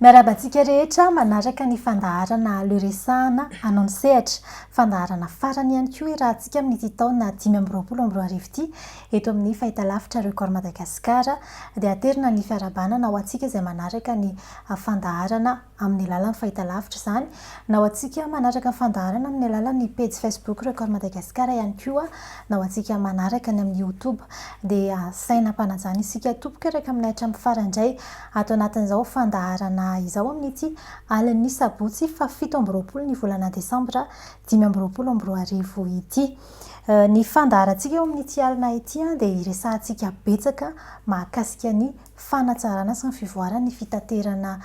Miarahaba antsika rehetra manaraka ny fandaharana Le Resahana hanao ny sehatra. Fandaharana farany ihany koa irahantsika amin'ity taona dimy amby roapolo amby roa arivo ity. Eto amin'ny fahitalavitra Record Madagascar dia aterina ny fiarahabana na ho antsika izay manaraka ny fandaharana amin'ny alalan'ny fahitalavitra izany na ho antsika manaraka ny fandaharana amin'ny alalan'ny pejy Facebook Record Madagascar ihany koa na ho antsika manaraka ny amin'ny Youtube dia asaina hampanajana isika tompoko hiaraka aminay hatramin'ny farany indray Ato anatin'izao fandaharana izao amin'ity alin'ny sabotsy fahafito amby roapolo ny volana desambra dimy amby roapolo amby roa arivo ity. Ny fandaharantsika eo amin'ity alina ity dia hiresahantsika betsaka mahakasika ny fanatsarana sy ny fivoaran'ny fitaterana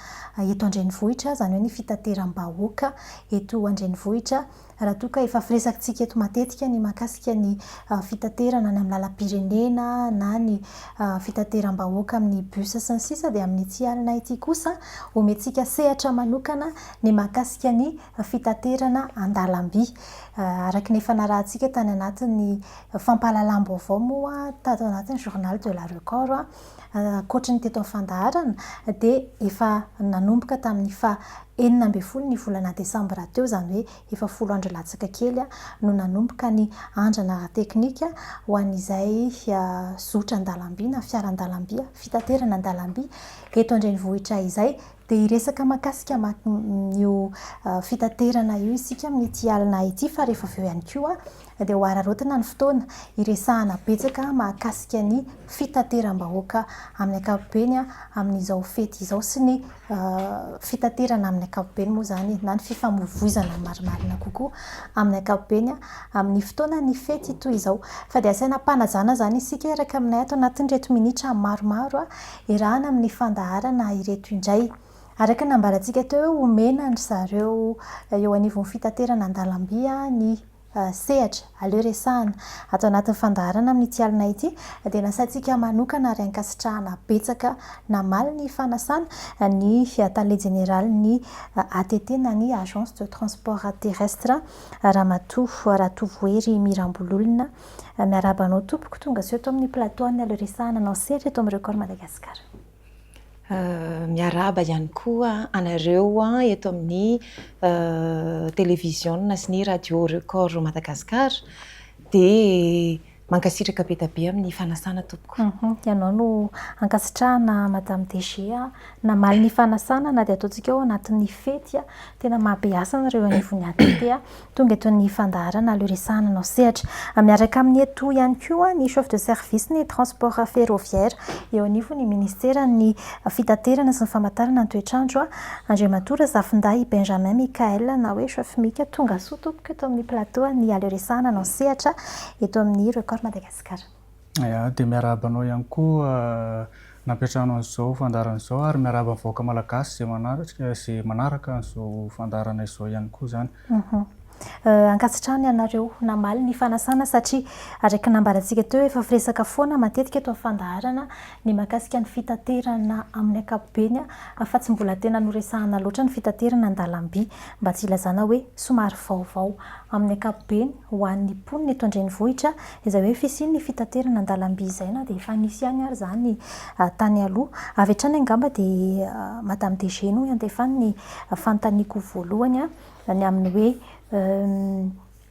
eto an-drenivohitra, izany hoe ny fitateram-bahoaka eto an-drenivohitra. Raha toa ka efa firesakitsika eto matetika ny mahakasika ny fitaterana any amin'ny lalam-pirenena na ny fitateram-bahoaka amin'ny bus sy ny sisa dia amin'ity alina ity kosa omentsika sehatra manokana ny mahakasika ny fitaterana an-dalamby. Araka ny efa narahantsika tany anatin'ny fampahalalam-baovao moa tato anatin'ny journal de la record ankoatry ny teto amin'ny fandaharana dia efa nanomboka tamin'ny faha enina ambin'ny folo ny volana desambra teo, izany hoe efa folo andro latsaka kely no nanomboka ny andrana ara-teknika ho an'izay zotra an-dalamby na fiara an-dalamby, fitaterana an-dalamby eto an-drenivohitra izay. Dia hiresaka mahakasika an'io fitaterana io isika amin'ity alina ity fa rehefa avy eo ihany koa. dia ho hararaotina ny fotoana hiresahana betsaka mahakasika ny fitateram-bahoaka amin'ny ankapobeny amin'izao fety izao sy ny fitaterana amin'ny ankapobeny moa izany na ny fifamoivoizana marimarina kokoa amin'ny ankapobeny amin'ny fotoanan'ny fety toy izao. Fa dia asaina ampanajana izany isika hiaraka aminay ato anatin'ireto minitra maromaro iarahana amin'ny fandaharana ireto indray. Araka ny nambarantsika teo, omena an-dry zareo eo anivon'ny fitaterana an-dalamby ny sehatra, aleo resahana. Ato anatin'ny fandaharana amin'ity alina ity dia nasaintsika manokana ary ankasitrahana betsaka namaly ny fanasana ny Tale Jeneralin'ny ATT na ny Agence de Transport Terrestre, Ramatoa Ratovohery Mirambololona. Miarahaba anao tompoko, tonga soa eto amin'ny plateau an'ny aleo resahana anao sehatra eto amin'ny Record Madagascar. Miarahaba ihany koa anareo eto amin'ny televiziona sy ny radio Record Madagascar. Dia mankasitraka be dia be amin'ny fanasana tompoko. Ianao no ankasitrahana Madame DG namaly ny fanasana na dia ataontsika ao anatin'ny fety. Tena mahabe hasina ireo anivon'ny ATP. Tonga eto ny fandaharana aleo resahana anao sehatra. Miaraka aminy eto ihany koa ny chef de service ny transport ferroviaire eo anivon'ny ministeran'ny fitaterana sy ny famantarana ny toetr'andro, Andriamatoa Razafindahy Benjamin Michael na hoe chef Mika. Tongasoa tompoko eto amin'ny plateau ny aleo resahana anao sehatra eto amin'ny Record Madagascar. Aya, dia miarahaba anao ihany koa nampiantrano an'izao fandaharana izao ary miarahaba ny vahoaka malagasy izay manatrika izay manaraka an'izao fandaharana izao ihany koa izany. Ankasitrahana ianareo namaly ny fanasana satria araka ny nambarantsika teo efa firesaka foana matetika eto amin'ny fandaharana ny mahakasika ny fitaterana amin'ny ankapobeny fa tsy mbola tena noresahana loatra ny fitaterana an-dalamby mba tsy hilazana hoe somary vaovao amin'ny ankapobeny. ho an'ny mponina eto an-drenivohitra izay hoe fisian'ny fitaterana an-dalamby izay na dia efa nisy ihany ary izany tany aloha. Avy hatrany angamba dia madame DG no iantefany ny fanontaniako voalohany ny amin'ny hoe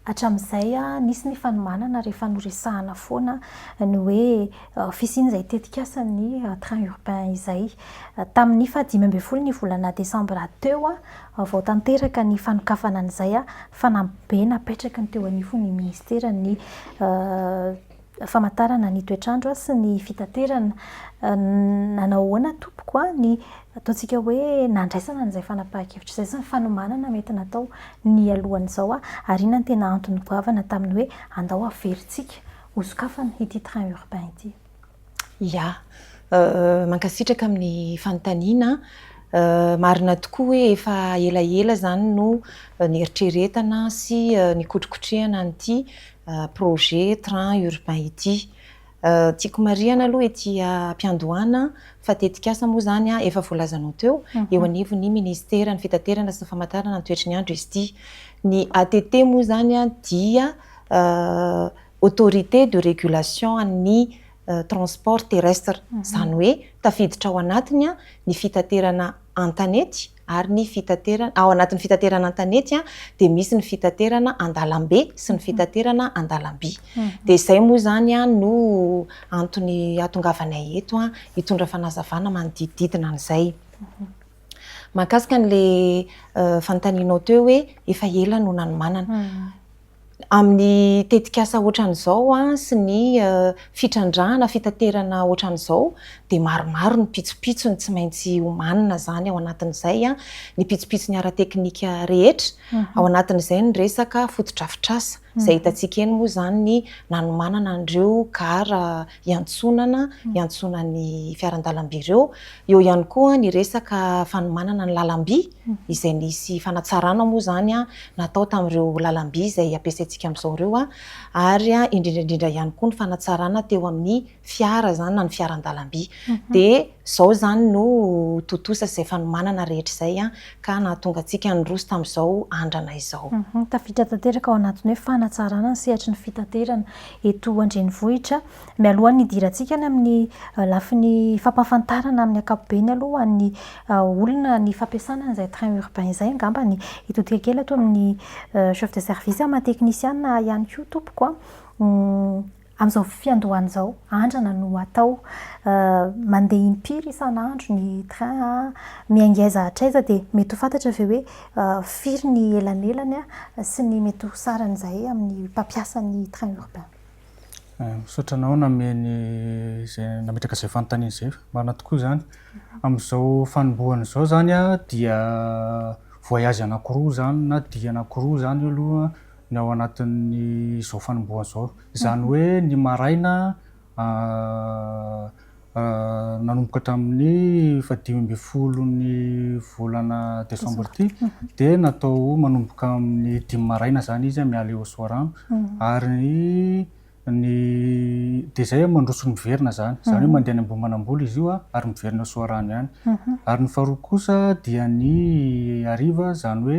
hatramin'izay nisy ny fanomanana rehefa noresahana foana ny hoe fisian'izay tetikasan'ny train urbain izay tamin'ny fahadimy ambin'ny folo ny volana desambra teo Vaovao tanteraka ny fanokafana an'izay fanambibe napetraky ny teo anivon'ny minisiteran'ny famantarana ny toetr'andro sy ny fitaterana. Nanao ahoana tompoko ny ataontsika hoe nandraisana an'izay fanapahan-kevitra izay sy ny fanomanana mety natao nialohan'izao ary inona no tena antony goavana tamin'ny hoe andao averintsika ho sokafana ity train urbain ity. Ya. Mankasitraka amin'ny fanontaniana. Marina tokoa hoe efa elaela izany no neritreretana sy nikotrokotrehana an'ity projet train urbain ity. Tiako marihana aloha ety am-piandohana fa tetikasa moa izany efa voalazanao teo, eo anivon'ny Ministeran'ny fitaterana sy ny famantarana ny toetry ny andro izy ity. Ny ATT moa izany dia Autorité de régulation an'ny transport terrestre, izany hoe tafiditra ao anatiny ny fitaterana an-tanety ary ny fitaterana, ao anatin'ny fitaterana an-tanety dia misy ny fitaterana an-dalambe sy ny fitaterana an-dalamby. Dia izay moa izany no antony ahatongavanay eto hitondra fanazavana manodidididina an'izay. Mahakasika an'ilay fanontanianao teo hoe efa ela no nanomanana. amin'ny tetikasa ohatran'izao sy ny fitrandrahana, fitaterana ohatran'izao dia maromaro ny pitsopitsony tsy maintsy omanina izany ao anatin'izay ny pitsopitsony ara-teknika rehetra, ao anatin'izay ny resaka fotodrafitrasa izay hitantsika eny moa izany ny nanomanana an'ireo gara iantsonana, iantsonan'ny fiaran-dalamby ireo. Eo ihany koa ny resaka fanomanana ny lalamby, izay nisy fanatsarana moa izany natao tamin'ireo lalamby izay ampiasaintsika amin'izao ireo, ary indrindra indrindra ihany koa ny fanatsarana teo amin'ny fiara izany na ny fiaran-dalamby. Dia izao izany no tontosa izay fanomanana rehetra izay ka nahatonga antsika niroso tamin'izao andrana izao. Tafiditra tanteraka ao anatin'ny hoe fanatsarana ny sehatry ny fitaterana eto an-drenivohitra. Mialohan'ny hidirantsika any amin'ny lafiny fampahafantarana amin'ny ankapobeny aloha ny olona ny fampiasana an'izay train urbain izay angamba ny hitodika kely ato amin'ny chef de service aman teknisiana ihany koa tompoko an! amin'izao fiandohana izao andrana no atao mandeha impiry isan'andro ny train an? miha ngeza hatraiza dia mety ho fantatra ve hoe Firy ny elanelany sy ny mety ho sarany izahay amin'ny mpampiasa ny train urbain? Misaotra anao nameno izay nametraka izay fanontaniana izay. Marina tokoa izany. Amin'izao fanombohana izao izany dia voyage anankiroa izany na dihy anankiroa izany aloha ny ao anatin'izao fanombohana izao. Izany hoe ny maraina Nanomboka hatramin'ny fahadimy ambin'ny folon'ny volana desambra ity dia natao manomboka amin'ny dimy maraina izany izy amin'ny Allée aux Soarano ary ny dia izay aho mandroso ny miverina izany, izany hoe mandeha any Ambohimanambola izy io ary miverina Soarano ihany. Ary ny faharoa kosa dia ny hariva izany hoe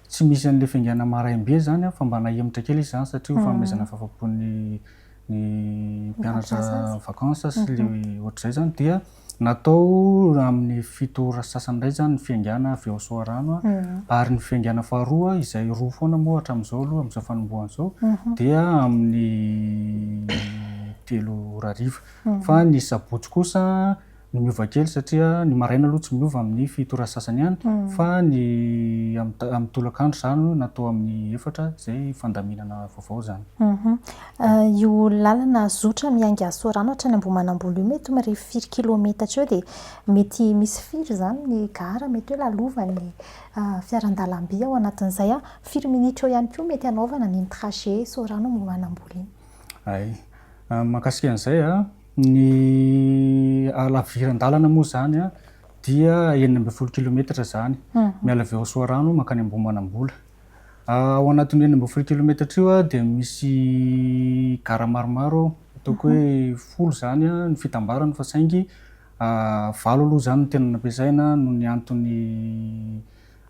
Tsy misy an'ilay fiaingàna maraim-be zany an, fa mba nahemotra kely izy zany satria ho fanomezana fahafa-po ny ny mpianatra vacances sy le ohatr'izay zany dia natao amin'ny fito ora sy sasany indray zany ny fiaingàna avy ao Soarano an, ary ny fiaingàna faharoa izay roa foana moa hatramin'izao aloha amin'izao fanombohana izao dia amin'ny telo ora hariva, fa ny sabotsy kosa no miova kely satria ny maraina aloha tsy miova amin'ny fito ora sy sasany ihany fa ny amin'ny tolakandro izany na atao amin'ny efatra izay fandaminana vaovao izany. Io lalana zotra miainga Sorano hatrany Ambohimanambolo io mety mirefy firy kilometatra eo dia mety misy firy izany ny gara mety hoe lalovan'ny fiaran-dalamby ao anatin'izay? Firy minitra eo ihany koa mety hanaovana an'iny trajet Sorano Ambohimanambolo iny? Hay, mahakasika an'izay a! Ny halaviran-dalana moa izany dia enina ambin'ny folo kilometatra izany, miala avy ao Soarano mankany Ambohimanambola. Ao anatin'io enina ambin'ny folo kilometatra io dia misy gara maromaro ao, ataoko hoe folo izany ny fitambarany fa saingy valo aloha izany no tena nampiasaina noho ny antony,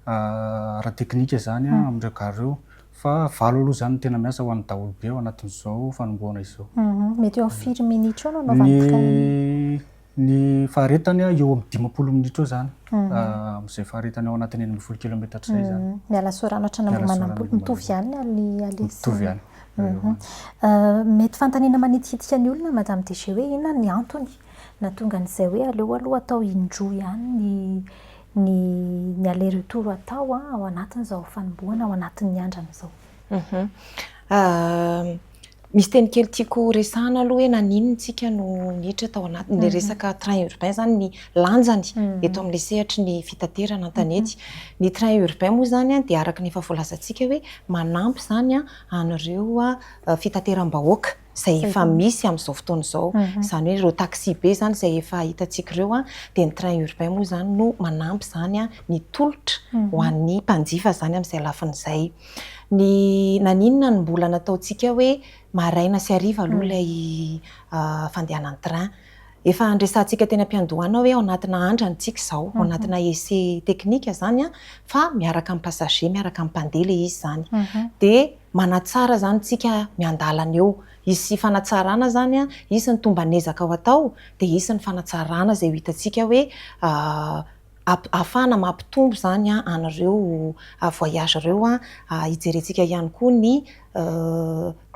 ara-teknika izany amin'ireo gare ireo fa valo aloha izany no tena miasa ho an'ny daholobe ao anatin'izao fanombohana izao. Mety eo amin'ny firy minitra eo no anaovan'ny train? Ny faharetany eo amin'ny dimampolo minitra eo izany, amin'izay faharetany ao anatin'ny enina ambin'ny folo kilaometatra izay izany. Miala Sorano hatrany Ambohimanambola, mitovy ihany ny aller sy ny retour? Mitovy ihany. Mety fanontaniana manitikitika ny olona Madame DG hoe inona ny antony nahatonga an'izay hoe aleo aloha atao indroa ihany ny ny ny aller retour atao an, ao anatin'izao fanombohana ao anatin'ny andrana izao. Misy teny kely tiako resahana aloha hoe naninona isika no niditra tao anaty ny resaka train urbain izany ny lanjany eto amin'ilay sehatry ny fitaterana an-tanety. Ny train urbain moa izany dia araka ny efa voalazantsika hoe manampy izany an'ireo fitateram-bahoaka izay efa misy amin'izao fotoana izao. Izany hoe ireo taxi-be izany izay efa hitantsika ireo, dia ny train urbain moa izany no manampy izany ny tolotra ho an'ny mpanjifa izany amin'izay lafiny izay. Ny naninona no mbola nataontsika hoe maraina sy hariva aloha ilay fandehanan'ny train? Efa niresahantsika teny am-piandohana hoe ao anatina andrana isika izao, ao anatina essai technique izany fa miaraka amin'ny passager, miaraka amin'ny mpandeha ilay izy izany. Dia manatsara izany isika miandalana eo. Hisy fanatsarana izany an, hisy ny tomban'ezaka ho atao, dia hisy ny fanatsarana izay ho hitantsika hoe ahafahana mampitombo izany an an'ireo voyage ireo an. Hijerentsika ihany koa ny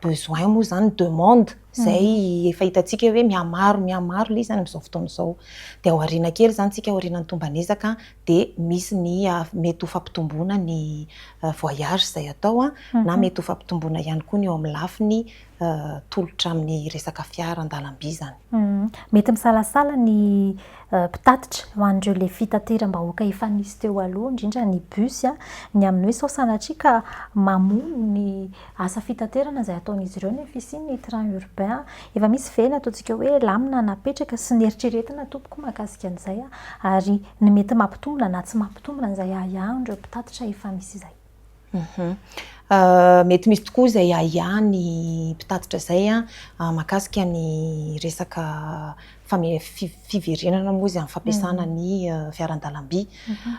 besoin moa izany, ny demande izay efa hitantsika hoe mihamaro mihamaro ilay izy amin'izao fotoana izao. Dia ao aoriana kely izany isika ao aorianan'ny tomban'ezaka dia misy ny mety ho fampitomboana ny voyage izay atao na mety ho fampitomboana ihany koa ny eo amin'ny lafiny tolotra amin'ny resaka fiara an-dalamby izany. Mety misalasala ny mpitatitra ho an'ireo ilay fitateram-bahoaka efa nisy teo aloha, indrindra ny bus, ny amin'ny hoe sao sanatria ka mamono ny Asa fitaterana izay ataon'izy ireo ny fisian'ny train urbain. Efa misy ve ny ataontsika hoe lamina napetraka sy neritreretina tompoko mahakasika an'izay ary ny mety mampitombina na tsy mampitombina izay ahiahin'ireo mpitatitra efa misy izay? Mety misy tokoa izay ahiahin'ny mpitatitra izay mahakasika ny resaka fiverenana moa izy amin'ny fampiasana ny fiaran-dalamby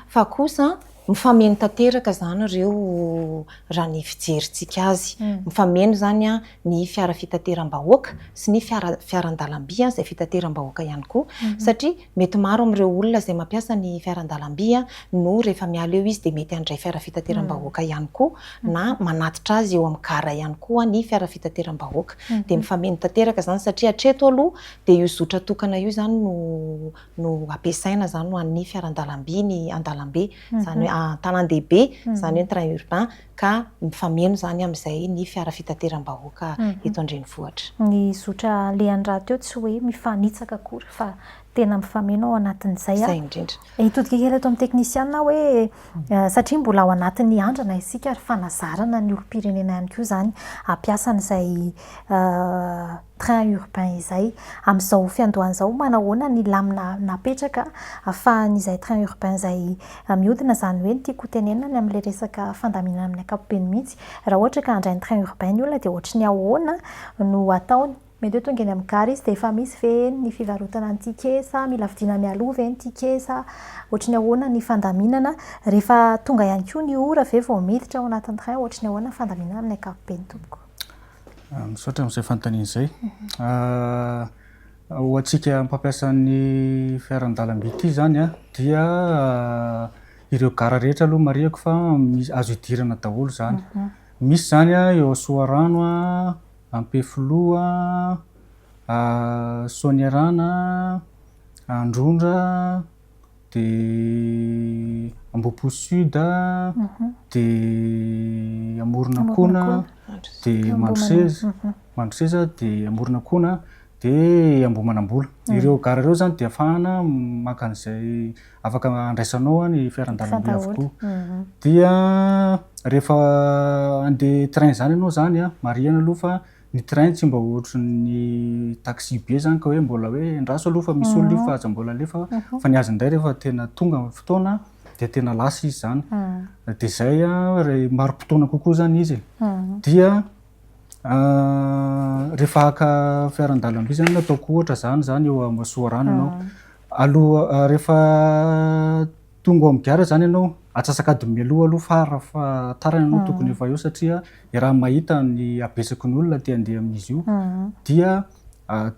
fa kosa Mifameno tanteraka izany ireo raha ny fijerintsika azy. Mifameno izany ny fiara fitateram-bahoaka sy ny fiara fiaran-dalamby izay fitateram-bahoaka ihany koa satria mety maro amin'ireo olona izay mampiasa ny fiaran-dalamby no rehefa miala eo izy dia mety handray fiara fitateram-bahoaka ihany koa na manatitra azy eo amin'ny gara ihany koa ny fiara fitateram-bahoaka. Dia mifameno tanteraka izany satria hatreto aloha dia io zotra tokana io izany no no ampiasaina izany ho an'ny fiaran-dalamby ny an-dalambe, izany hoe an-tanàn-dehibe, izany hoe ny train urbain, ka mifameno izany amin'izay ny fiara fitateram-bahoaka eto an-drenivohitra. Ny zotra alehany rahateo tsy hoe mifanitsaka akory fa tena mifameno ao anatin'izay. Izay indrindra. Hitodika kely eto amin'ny teknisianina aho hoe satria mbola ao anatin'ny andrana isika ary fanazarana ny olom-pirenena ihany koa izany hampiasa an'izay train urbain izay. Amin'izao fiandohana izao, manahoana ny lamina napetraka ahafahan'izay train urbain izay mihodina, izany hoe ny tiako hotenenina any amin'ilay resaka fandaminana amin'ny ankapobeny mihitsy, raha ohatra ka handray ny train urbain ny olona dia ohatry ny ahoana no ataony? Mety hoe tonga eny amin'ny gare izy dia efa misy ve ny fivarotana ny ticket sa mila vidiana mialoha ve ny ticket sa ohatry ny ahoana ny fandaminana? Rehefa tonga ihany koa ny ora ve vao miditra ao anatin'ny train? Ohatry ny ahoana ny fandaminana amin'ny ankapobeny tompoko? Misaotra amin'izay fanontaniana izay. Ho antsika mpampiasa ny fiaran-dalamby ity izany dia ireo gara rehetra aloha marihako fa azo idirana daholo izany. Misy izany eo Soarano, Ampefiloha, Soanierana, Androndra. dia Ambohipo Sud, dia Amoronakona, dia Mandroseza, Mandroseza, dia Amoronakona, dia Ambohimanambola. Ireo gara ireo izany dia afahana maka an'izay afaka andraisanao ny fiaran-dalamby avokoa. Dia rehefa handeha train izany ianao izany, marihana aloha fa. Ny train tsy mba ohatrin'ny taxi be zany ka hoe mbola hoe endraso aloha fa misy olona io fa aza mbola alefa fa ny azy indray rehefa tena tonga ny fotoana dia tena lasa izy zany dia izay raha marim-potoana kokoa zany izy dia rehefa haka fiaran-dalamby zany ataoko ohatra zany zany eo Masoarano ianao aloha rehefa Tonga ao amin'ny gara izany ianao, atsasak'adiny mialoha aloha farafahatarany ianao tokony efa eo satria raha mahita ny habetsaky ny olona te handeha amin'izy io dia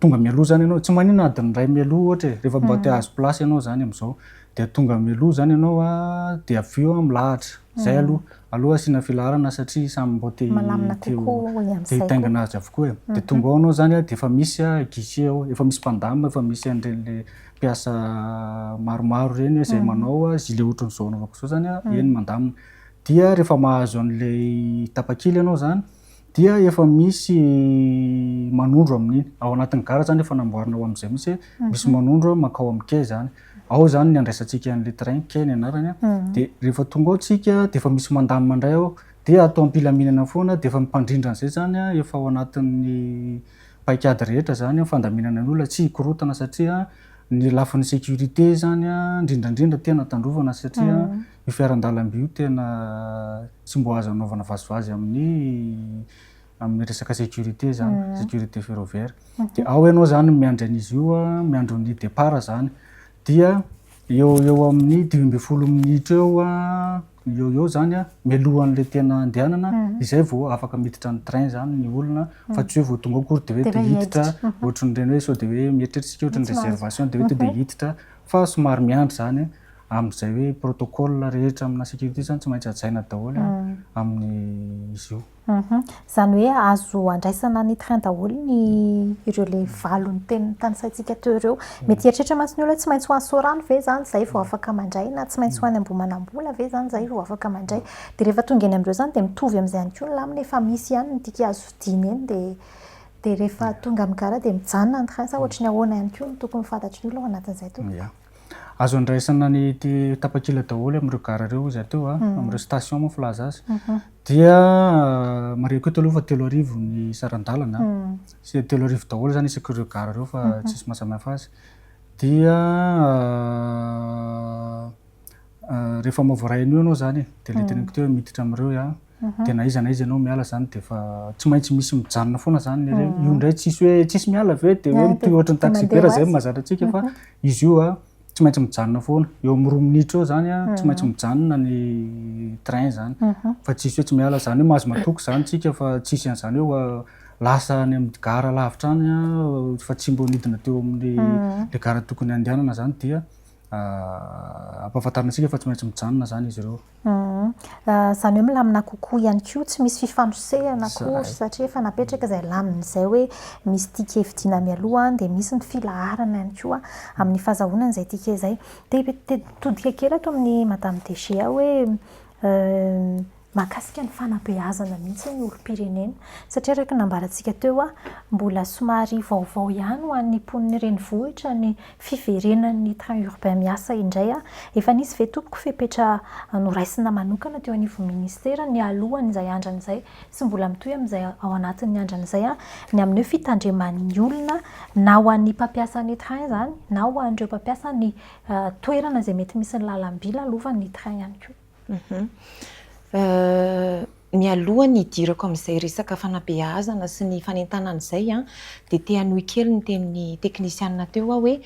tonga mialoha izany ianao, tsy maninona adiny iray mialoha ohatra e, rehefa mba te hahazo place ianao izany amin'izao dia tonga mialoha izany ianao dia avy eo milahatra, izay aloha, aleo asiana filaharana satria samy mba te hitaingina azy avokoa e, dia tonga ao ianao izany dia efa misy guichet ao, efa misy mpandamina, efa misy an'ireny le mpiasa maromaro ireny hoe izay manao azy, ilay ohatry ny izao anaovako izao izany an, eny mandamina. Dia rehefa mahazo an'ilay tapakila ianao izany dia efa misy manondro amin'iny. Ao anatin'ny gara izany efa namboarina ho amin'izay mihitsy hoe misy manondro mankao amin'ny quai izany. Ao izany ny handraisantsika an'ilay train, quai ny anarany an. Dia rehefa tonga ao isika dia efa misy mandamina indray ao, dia atao am-pilaminana foana dia efa ny mpandrindra an'izay izany an efa ao anatin'ny. paikady rehetra zany an, fandaminana ny olona tsy hikorotana satria ny lafiny sécurité zany an, indrindra indrindra tena tandrovana satria io fiaran-dalamby io tena tsy mbo azo anaovana vazivazy amin'ny amin'ny resaka sécurité zany, sécurité ferroviaire, dia ao ianao zany no miandry an'izy io an, miandry ny départ zany dia eo eo amin'ny dimy ambin'ny folo minitra eo an, eo eo zany a, mialohan'le tena andehanana izay vao afaka miditra ny train zany ny olona fa tsy hoe vao tonga ao akory de hoe te hiditra ohatrin'ireny hoe sao de hoe mieritreritra isika ohatrin'ny réservation de hoe to de hiditra fa somary miandry zany amin'izay hoe protocole rehetra amina sécurité zany tsy maintsy hajaina daholo amin'ny izy io. Humm. Izany hoe azo andraisana ny train daholo ny ireo le valon'ny teny notanisaintsika teo ireo. Mety hieritreritra mantsy ny olona hoe tsy maintsy ho any Soarano ve izany izay vao afaka mandray na tsy maintsy ho any Ambohimanambola ve izany izay vao afaka mandray. Dia rehefa tonga eny amin'ireo izany dia mitovy amin'izay ihany koa ny lamina efa misy ihany ny diky azo vidiana eny dia dia rehefa tonga amin'ny gara dia mijanona ny train sa ohatry ny ahoana ihany koa no tokony ho fantatry ny olona ao anatin'izay tompoko? Azo andraisana ny tapakila daholo amin'ireo gara ireo izy ateo, amin'ireo station moa filaza azy. Dia marihiko eto aloha fa telo arivo ny saran-dalana, sy telo arivo daholo izany isaky ireo gara ireo fa tsisy mahasamihafa azy. Dia rehefa maha voaray an'io ianao izany e, dia ilay teneniko teo hoe miditra amin'ireo aho. dia na iza na iza ianao miala izany dia efa tsy maintsy misy mijanona foana izany le reny. Io indray tsisy hoe tsisy miala avy eo dia hoe mitohy ohatry ny taxi-vera izay mahazatra antsika fa izy io a tsy maintsy mijanona foana. Eo amin'ny roa minitra eo izany a tsy maintsy mijanona ny train izany fa tsisy hoe tsy miala. Izany hoe mahazo matoky izany tsika fa tsisy an'izany hoe lasa any amin'ny gara lavitra any a fa tsy mbo nidina teo amin'ny le gara tokony handehanana izany dia ampahafantarina antsika fa tsy maintsy mijanona izany izy ireo. Humm. Izany hoe milamina kokoa ihany koa, tsy misy fifanosehana akory satria efa napetraka izay lamina izay hoe misy ticket vidiana mialoha dia misy ny filaharana ihany koa amin'ny fahazahoana an'izay ticket izay. Te-hitodika kely ato amin'i Madame DG aho hoe mahakasika ny fanabeazana mihitsy ny olom-pirenena. Satria araka ny nambarantsika teo, mbola somary vaovao ihany ho an'ny mponin'ny renivohitra ny Fiverenan'ny train urbain miasa indray a! Efa nisy ve tompoko fepetra noraisina manokana teo anivon'ny ministera nialohan'izay andrana izay sy mbola mitohy amin'izay ao anatin'ny andrana izay ny amin'io fitandreman'ny olona na ho an'ny mpampiasa ny train izany na ho an'ireo mpampiasa ny toerana izay mety misy ny lalam-by lalovan'ny train ihany koa? Mialoha ny hidirako amin'izay resaka fanabeazana sy ny fanentanana izay dia te hanohy kely ny tenin'ny teknisiana teo aho hoe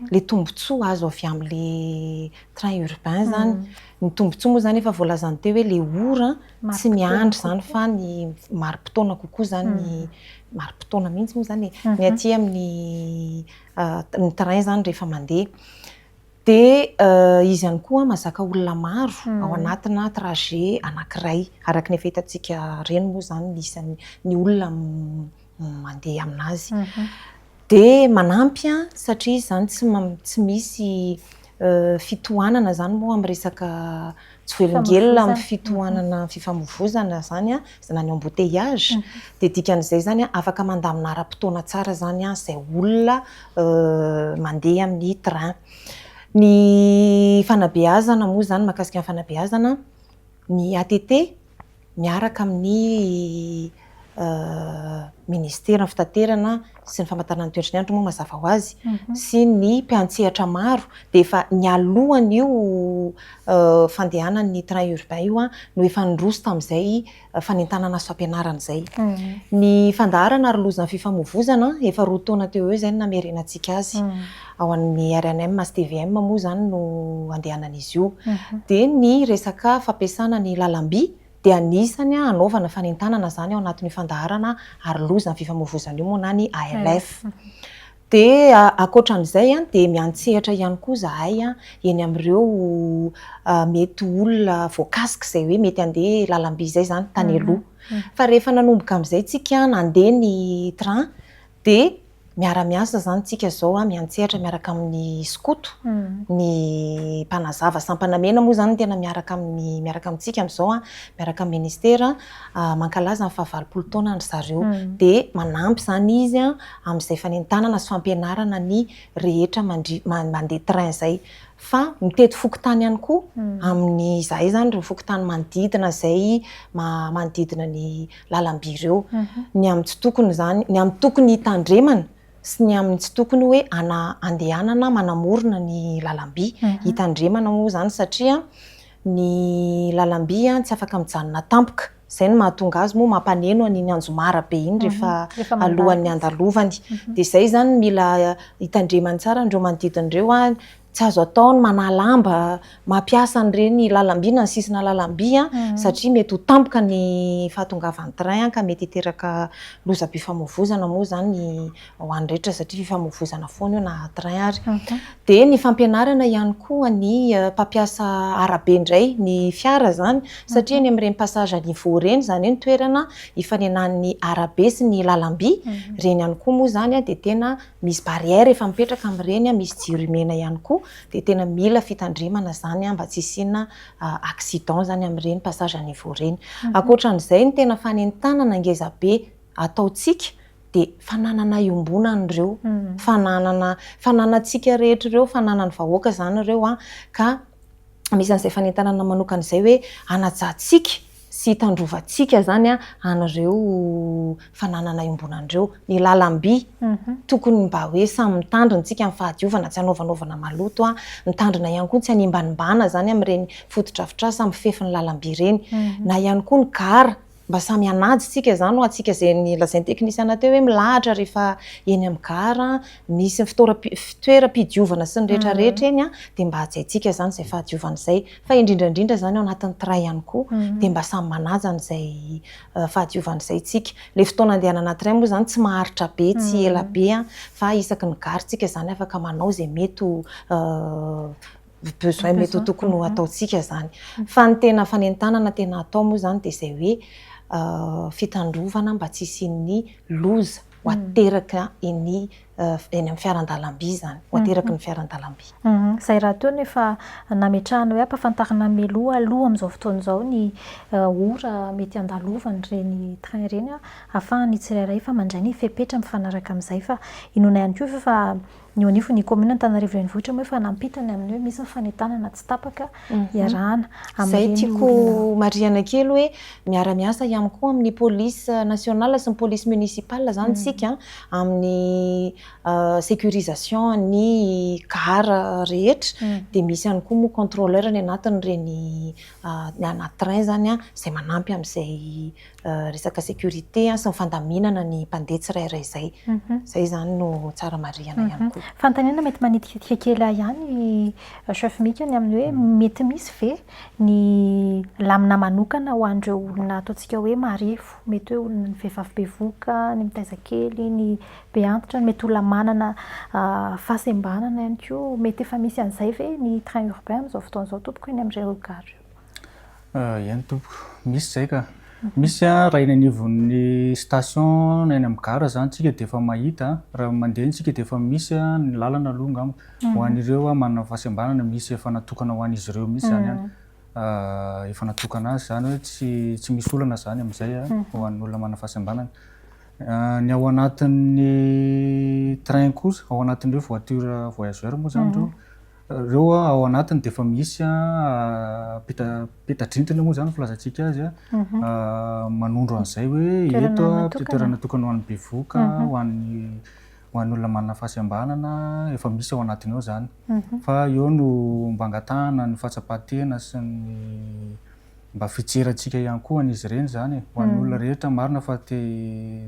ilay tombontsoa azo avy amin'ilay train urbain izany, ny tombontsoa moa izany efa voalazany teo hoe ilay ora tsy miandry izany fa ny mari-potoana kokoa izany ny, mari-potoana mihintsy moa izany e, ny aty amin'ny ny train izany rehefa mandeha. Dia izy ihany koa mazaka olona maro ao anatina trajet anankiray. Araka ny efa hitantsika reny moa izany ny isan'ny ny olona mandeha amin'azy. Dia manampy satria izany tsy misy fitohanana izany moa amin'ny resaka tsy velongelona amin'ny fitohanana ny fifamoivoizana izany an, na ny embouteillage, dia dikan'izay izany an, afaka mandamina ara-potoana tsara izany an, izay olona mandeha amin'ny train. Ny fanabeazana moa izany, mahakasika ny fanabeazana, ny ATT, miaraka amin'ny Ministeran'ny Fitaterana sy ny Famantarana ny Toetry ny Andro moa mazava ho azy sy ny mpiantsehatra maro dia efa nialohan'io fandehanan'ny train urbain io no efa niroso tamin'izay fanentanana asa fampianarana izay. Ny fandaharana ary loza amin'ny fifamoivoizana, efa roa taona teo ho eo izay no namerenantsika azy. Ao amin'ny rnm sy tvm moa izany no andehanan'izy io. Dia ny resaka fampiasana ny lalam-by dia anisany hanaovana fanentanana izany ao anatin'io fandaharana Aro loza ny fifamoivozana io moa na ny ALF. Dia ankoatra an'izay dia miantsehatra ihany koa izahay eny amin'ireo mety olona voakasika izay hoe mety handeha lalam-by izay izany tany aloha. Fa rehefa nanomboka amin'izay isika nandeha ny train dia miara-miasa izany isika izao, miantsehatra miaraka amin'ny skoto, ny mpanazava sampana mena moa izany no tena miaraka amin'ny, miaraka amintsika amin'izao, miaraka amin'ny ministera, mankalaza ny fahavalopolo taona an-dry zareo. Dia manampy izany izy amin'izay fanentanana sy fampianarana ny rehetra mandri- ma- mandeha train izay. Fa mitety fokontany ihany koa amin'ny, izahay izany ireo fokontany manodidina izay, ma- manodidina ny. lalam-by ireo, ny amin'ny tsy tokony izany, ny amin'ny tokony hitandremana sy ny amin'ny tsy tokony hoe andehanana manamorona ny lalam-by. Hitandremana moa izany satria ny lalam-by tsy afaka mijanona tampoka, izay no mahatonga azy moa mampaneno an'iny anjomara be iny rehefa alohan'ny handalovany. Dia izay izany no mila hitandremany tsara an'ireo manodidina ireo. Tsy azo atao ny manalamba, mampiasa an'ireny lalamby na ny sisina lalamby satria mety ho tampoka ny fahatongavan'ny train ka mety hiteraka lozam-pifamoivoizana moa izany ho an'ny rehetra satria fifamoivoizana foana io na train ary. Dia ny fampianarana ihany koa ny mpampiasa arabe indray ny fiara izany satria eny amin'ireny passage à niveau ireny, izany hoe ny toerana ifanenan'ny arabe sy ny lalamby, ireny ihany koa moa izany dia tena Misy barrière efa mipetraka amin'ireny, misy jiro mena ihany koa, dia tena mila fitandremana izany mba tsy hisiana accident izany amin'ireny passage à niveau ireny. Ankoatran'izay, ny tena fanentanana ngeza be ataontsika dia fananana iombonana ireo, fananana, fananantsika rehetra ireo, fananan'ny vahoaka izany ireo ka. anisan'izay fanentanana manokana izay hoe hanajantsika sy hitandrovantsika izany an'ireo fananana iombonana ireo. Ny lalam-by, tokony mba hoe samy mitandrina isika amin'ny fahadiovana, tsy hanaovanaovana maloto, mitandrina ihany koa ny tsy hanimbanimbana izany amin'ireny fotodrafitrasa mifefy ny lalam-by ireny, na ihany koa ny gara. Mba samy hanaja tsika izany ho antsika izay nolazain'ny teknisiana teo hoe milahatra rehefa eny amin'ny gara misy ny fitoeram-pidiovana sy ny rehetra rehetra eny an, dia mba hajaintsika izany izay fahadiovana izay. Fa indrindra indrindra izany ao anatin'ny train ihany koa dia mba samy manaja an'izay fahadiovana izay tsika. Ilay fotoana andehanana train moa izany tsy maharitra be tsy ela be an, fa isaky ny gara tsika izany afaka manao izay mety ho ny besoin mety ho tokony ho ataontsika izany. Fa ny tena fanentanana tena atao moa izany dia izay hoe fitandrovana mba tsy hisian'ny loza ho ateraka eny amin'ny fiaran-dalamby izany, ho ateraky ny fiaran-dalamby. Izay raha toa nefa nametrahana hoe ampahafantarina mialoha aloha amin'izao fotoana izao ny ora mety handalovan'ireny train ireny ahafahan'ny tsirairay fa mandray ny fepetra mifanaraka amin'izay fa inoana ihany koa ve fa Ny eo anivon'ny kaominina Antananarivo Renivohitra moa efa nampita ny amin'ny hoe misy ny fanentanana tsy tapaka iarahana amin'ireny orinasa. Izay tiako marihana kely hoe miara-miasa ihany koa amin'ny police nationale sy ny police municipale izany isika amin'ny sécurisation ny car rehetra dia misy ihany koa moa contrôleur ny anatin'ireny, ny anaty train izany izay manampy amin'izay resaka sécurité sy ny fandaminana ny mpandeha tsirairay izay. Izay izany no tsara marihana ihany koa. Fanontaniana mety manitikitika kely ahy ihany Chef Mika ny amin'ny hoe mety misy ve ny lamina manokana ho an'ireo olona ataontsika hoe marefo, mety hoe olona ny vehivavy bevoka, ny mitaiza kely, ny be antitra, ny mety olona manana fahasembanana ihany koa, mety efa misy an'izay ve ny train urbain amin'izao fotoana izao tompoko eny amin'ireo gares ireo? Eny tompoko, misy izay ka. Misy an, raha eny anivon'ny station na eny amin'ny gare izany isika dia efa mahita, raha mandeha isika dia efa misy an, ny lalana aloha angamba ho an'ireo manana fahasembanana misy efa natokana ho an'izy ireo mihitsy izany an, efa natokana azy izany hoe tsy tsy misy olana izany amin'izay an, ho an'ny olona manana fahasembanana. Ny ao anatin'ny train kosa, ao anatin'ireo voiture voyageurs moa izany ireo, Ireo ao anatiny dia efa misy peta-drindrina moa izany no filazantsika azy, manondro an'izay hoe eto dia toerana natokana ho an'ny bevoka, ho an'ny ho an'ny olona manana fahasembanana, efa misy ao anatiny ao izany. Fa eo no mba angatahana ny fahatsapan-tena sy ny mba fijerantsika ihany koa an'izy ireny izany e, ho an'ny olona rehetra marina fa te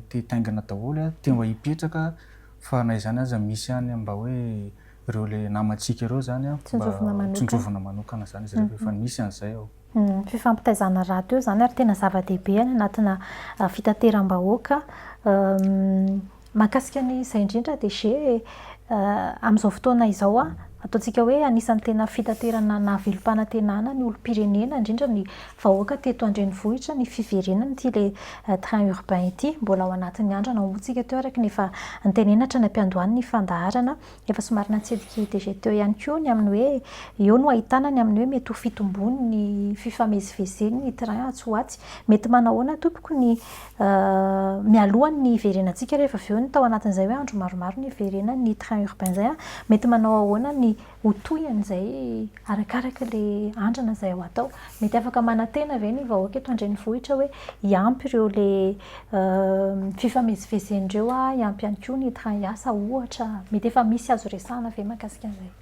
te hitaingina daholo, te mba hipetraka fa na izany aza misy ihany mba hoe ireo le namantsika ireo zany an, mba tsinjovina manokana zany izy ireo rehefa misy an'izay ao. Ny fifampitaizana rahateo izany ary tena zava-dehibe any anatina fitateram-bahoaka. Mahakasika an'izay indrindra DG, amin'izao fotoana izao an, ataontsika hoe anisan'ny tena fitaterana nahavelom-panantenana ny olom-pirenena indrindra ny vahoaka teto an-drenivohitra ny fiverenana ity le train urbain ity. Mbola ao anatin'ny andro anao moa isika teo araka ny efa notenenina hatrany am-piandohan'ny fandaharana. Efa somary natsidiky i DG teo ihany koa ny amin'ny hoe eo no ahitana ny amin'ny hoe mety ho fitomboany ny fifamezivezeny ny train atsy ho atsy. Mety manahoana tompoko ny mialoha ny hiverenantsika rehefa avy eo ny tao anatin'izay hoe andro maromaro ny hiverenan'ny train urbain izay an, mety manao ahoana ny ho toy an'izay arakaraka ilay andrana izay ho atao? Mety afaka manantena ve ny vahoaka eto an-drenivohitra hoe hiampy ireo ilay Fifamezivezen'ireo hiampy ihany koa ny train hiasa ohatra. Mety efa misy azo resahina ve mahakasika an'izay?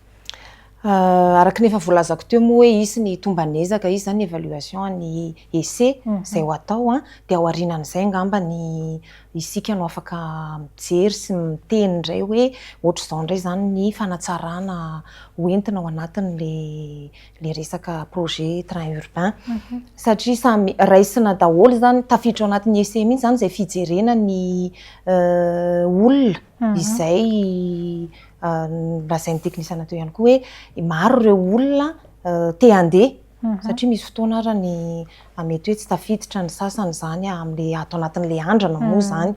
Araka ny efa voalazako teo moa hoe hisy ny tomban'ezaka, hisy izany ny évaluation an'ny essai izay ho atao, dia ao aorianan'izay angamba ny isika no afaka mijery sy miteny indray hoe ohatr'izao indray izany ny fanatsarana ho entina ao anatin'ilay le resaka projet train urbain satria samy raisina daholo izany, tafiditra ao anatin'ny essai mihitsy izany izay fijerena ny olona izay lazain'ny teknisiana teo ihany koa hoe maro ireo olona te handeha satria misy fotoana ary ny fa mety hoe tsy tafiditra ny sasany izany amin'ilay ato anatin'ilay andrana moa izany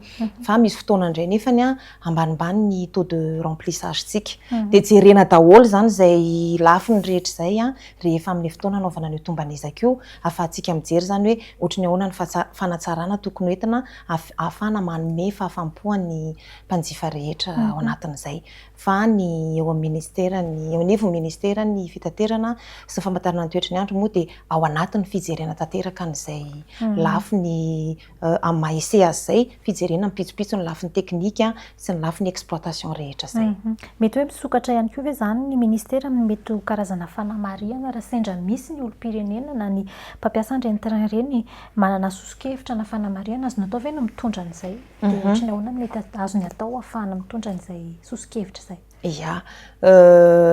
fa misy fotoana indray nefany ambanimbany ny taux de remplissage-tsika. Dia jerena daholo izany izay lafiny rehetra izay rehefa amin'ilay fotoana hanaovana an'io tomban'ezaka io ahafahantsika mijery izany hoe ohatry ny ahoana ny fanatsarana tokony ho entina ahafahana manome fahafaham-po an'ny mpanjifa rehetra ao anatin'izay. fa ny eo amin'ny Ministeran'ny, eo anivon'ny Ministeran'ny Fitaterana sy ny Famantarana ny Toetry ny Andro moa dia ao anatin'ny fijerena tanteraka an'izay lafiny amin'ny maha ese azy izay, fijerena mipitsopitso ny lafiny teknika sy ny lafiny exploitation rehetra izay. Mety hoe misokatra ihany koa ve izany ny Ministera amin'ny mety ho karazana fanamarihana raha sendra misy ny olom-pirenena na ny mpampiasa an'ireny train ireny manana soso-kevitra na fanamarihana azony atao ve no mitondra an'izay? Dia ohatry ny ahoana no mety azony atao hahafahana mitondra an'izay soso-kevitra izay? Ia.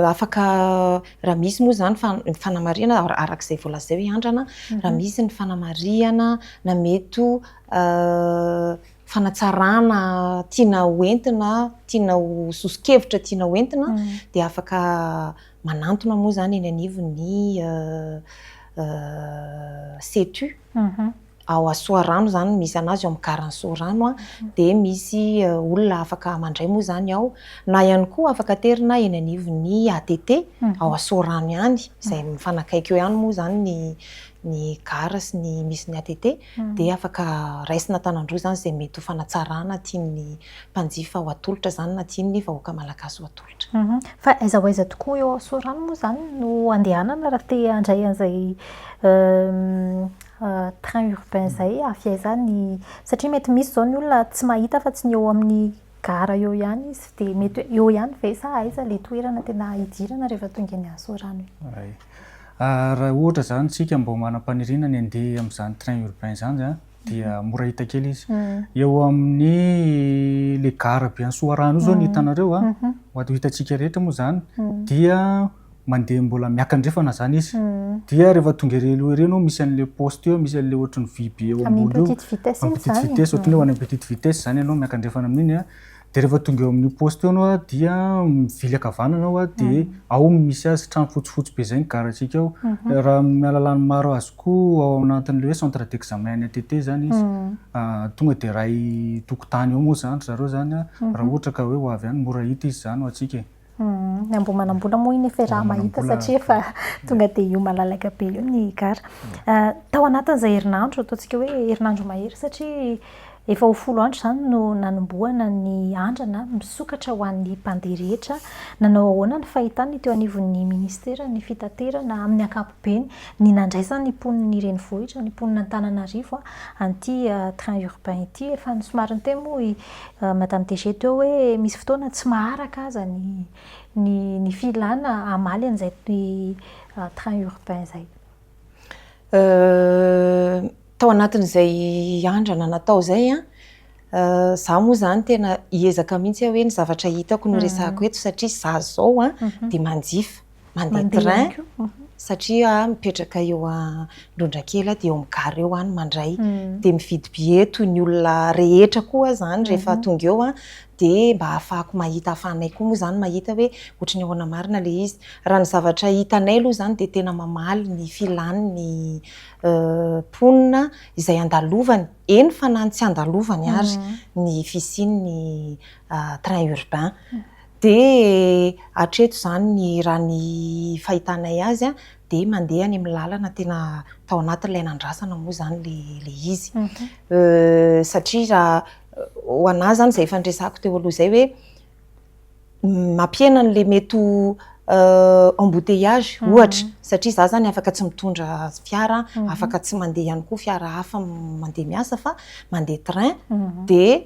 Afaka, raha misy moa izany ny fanamarihana, araka izay voalazao i Andrana, raha misy ny fanamarihana na mety ho fanatsarana tiana ho entina, tiana ho soso-kevitra tiana ho entina, dia afaka manantona moa izany eny anivon'ny Setu. ao à Soarano izany misy anazy ao amin'ny garan'i Soarano a, dia misy olona afaka mandray moa izany ao, na ihany koa afaka aterina eny anivon'ny ATT ao à Soarano ihany izay mifanakaiky eo ihany moa izany ny ny gara sy ny misy ny ATT dia afaka raisina an-tanan-droa izany izay mety ho fanatsarana tian'ny mpanjifa ho atolotra izany na tian'ny vahoaka malagasy ho atolotra. Fa aiza ho aiza tokoa eo Soarano moa izany no andehanana raha te handray an'izay train urbain izay avy aiza ny satria mety misy izao ny olona tsy mahita fa tsy ny eo amin'ny gara eo ihany izy dia mety hoe eo ihany ve sa aiza ilay toerana tena hidirana rehefa tonga eny Sorano iny? Ah, raha ohatra izany isika mba manam-paniriana ny handeha amin'izany train urbain izany an, dia mhm. mora hita kely izy. Mhm. Eo amin'ny le gara be any Soarano io izao ny mhm. hitanareo an, ho ato hitantsika rehetra moa izany dia mandeha mbola miakandrefana zany izy dia rehefa tonga ery aloha ery no misy an'le poste eo misy an'le ohatry ny vy be eo ambony eo petite vitesse iny zany petite vitesse ohatry ny hoe any petite vitesse zany ianao miakandrefana amin'iny a dia rehefa tonga eo amin'io poste io ianao a dia mivily ankavanana ao a dia ao no misy azy trano fotsifotsy be zay ny garatsika ao raha amin'ny alalany maro azoko ao anatin'le hoe centre d'examen any ATT zany izy tonga dia iray tokotany eo moa zany zareo zany a raha ohatra ka hoe ho avy any mora hita izy zany ho antsika e. Ny amboa manambola moa iny efa raha mahita satria efa tonga dia io malalaka be io ny gara. Tao anatin'izay herinandro, ataontsika hoe herinandro mahery satria efa ho folo andro izany no nanombohana ny andrana misokatra ho an'ny mpandeha rehetra. Nanao ahoana ny fahitana ny teo anivon'ny minisiteran'ny fitaterana amin'ny ankapobeny? Beny, ny nandraisany ny mponin'ny renivohitra, ny mponin'Antananarivo an'ity train urbain ity. Efa somary niteny moa i Madame DG teo hoe misy fotoana tsy maharaka aza ny ny ny filana hamaly an'izay train urbain izay. Tao anatin'izay andrana natao izay an, izaho moa izany tena hiezaka mihitsy aho hoe ny zavatra hitako no resahako eto satria izaho izao dia manjifa. mandeha train satria aho mipetraka eo Androndrakely aho dia eo amin'ny gare eo aho no mandray dia mividy billet toy ny olona rehetra koa aho izany rehefa tonga eo aho dia mba hahafahako mahita hahafahanay koa moa izany mahita hoe ohatra ny ahoana marina ilay izy. Raha ny zavatra hitanay aloha izany dia tena mamaly ny filàny ny mponina izay andalovany, eny fa na ny tsy andalovany ary ny fisian'ny train urbain. Dia hatreto izany raha ny fahitanay azy dia mandeha any amin'ny lalana tena tao anatin'ilay nandrasana moa izany ilay izy. Satria raha ho anà izany izay efa niresahako teo aloha izay hoe mampihena an'ilay mety ho embouteillage ohatra, satria izaho izany afaka tsy mitondra fiara, afaka tsy mandeha ihany koa fiara hafa mandeha miasa fa mandeha train dia.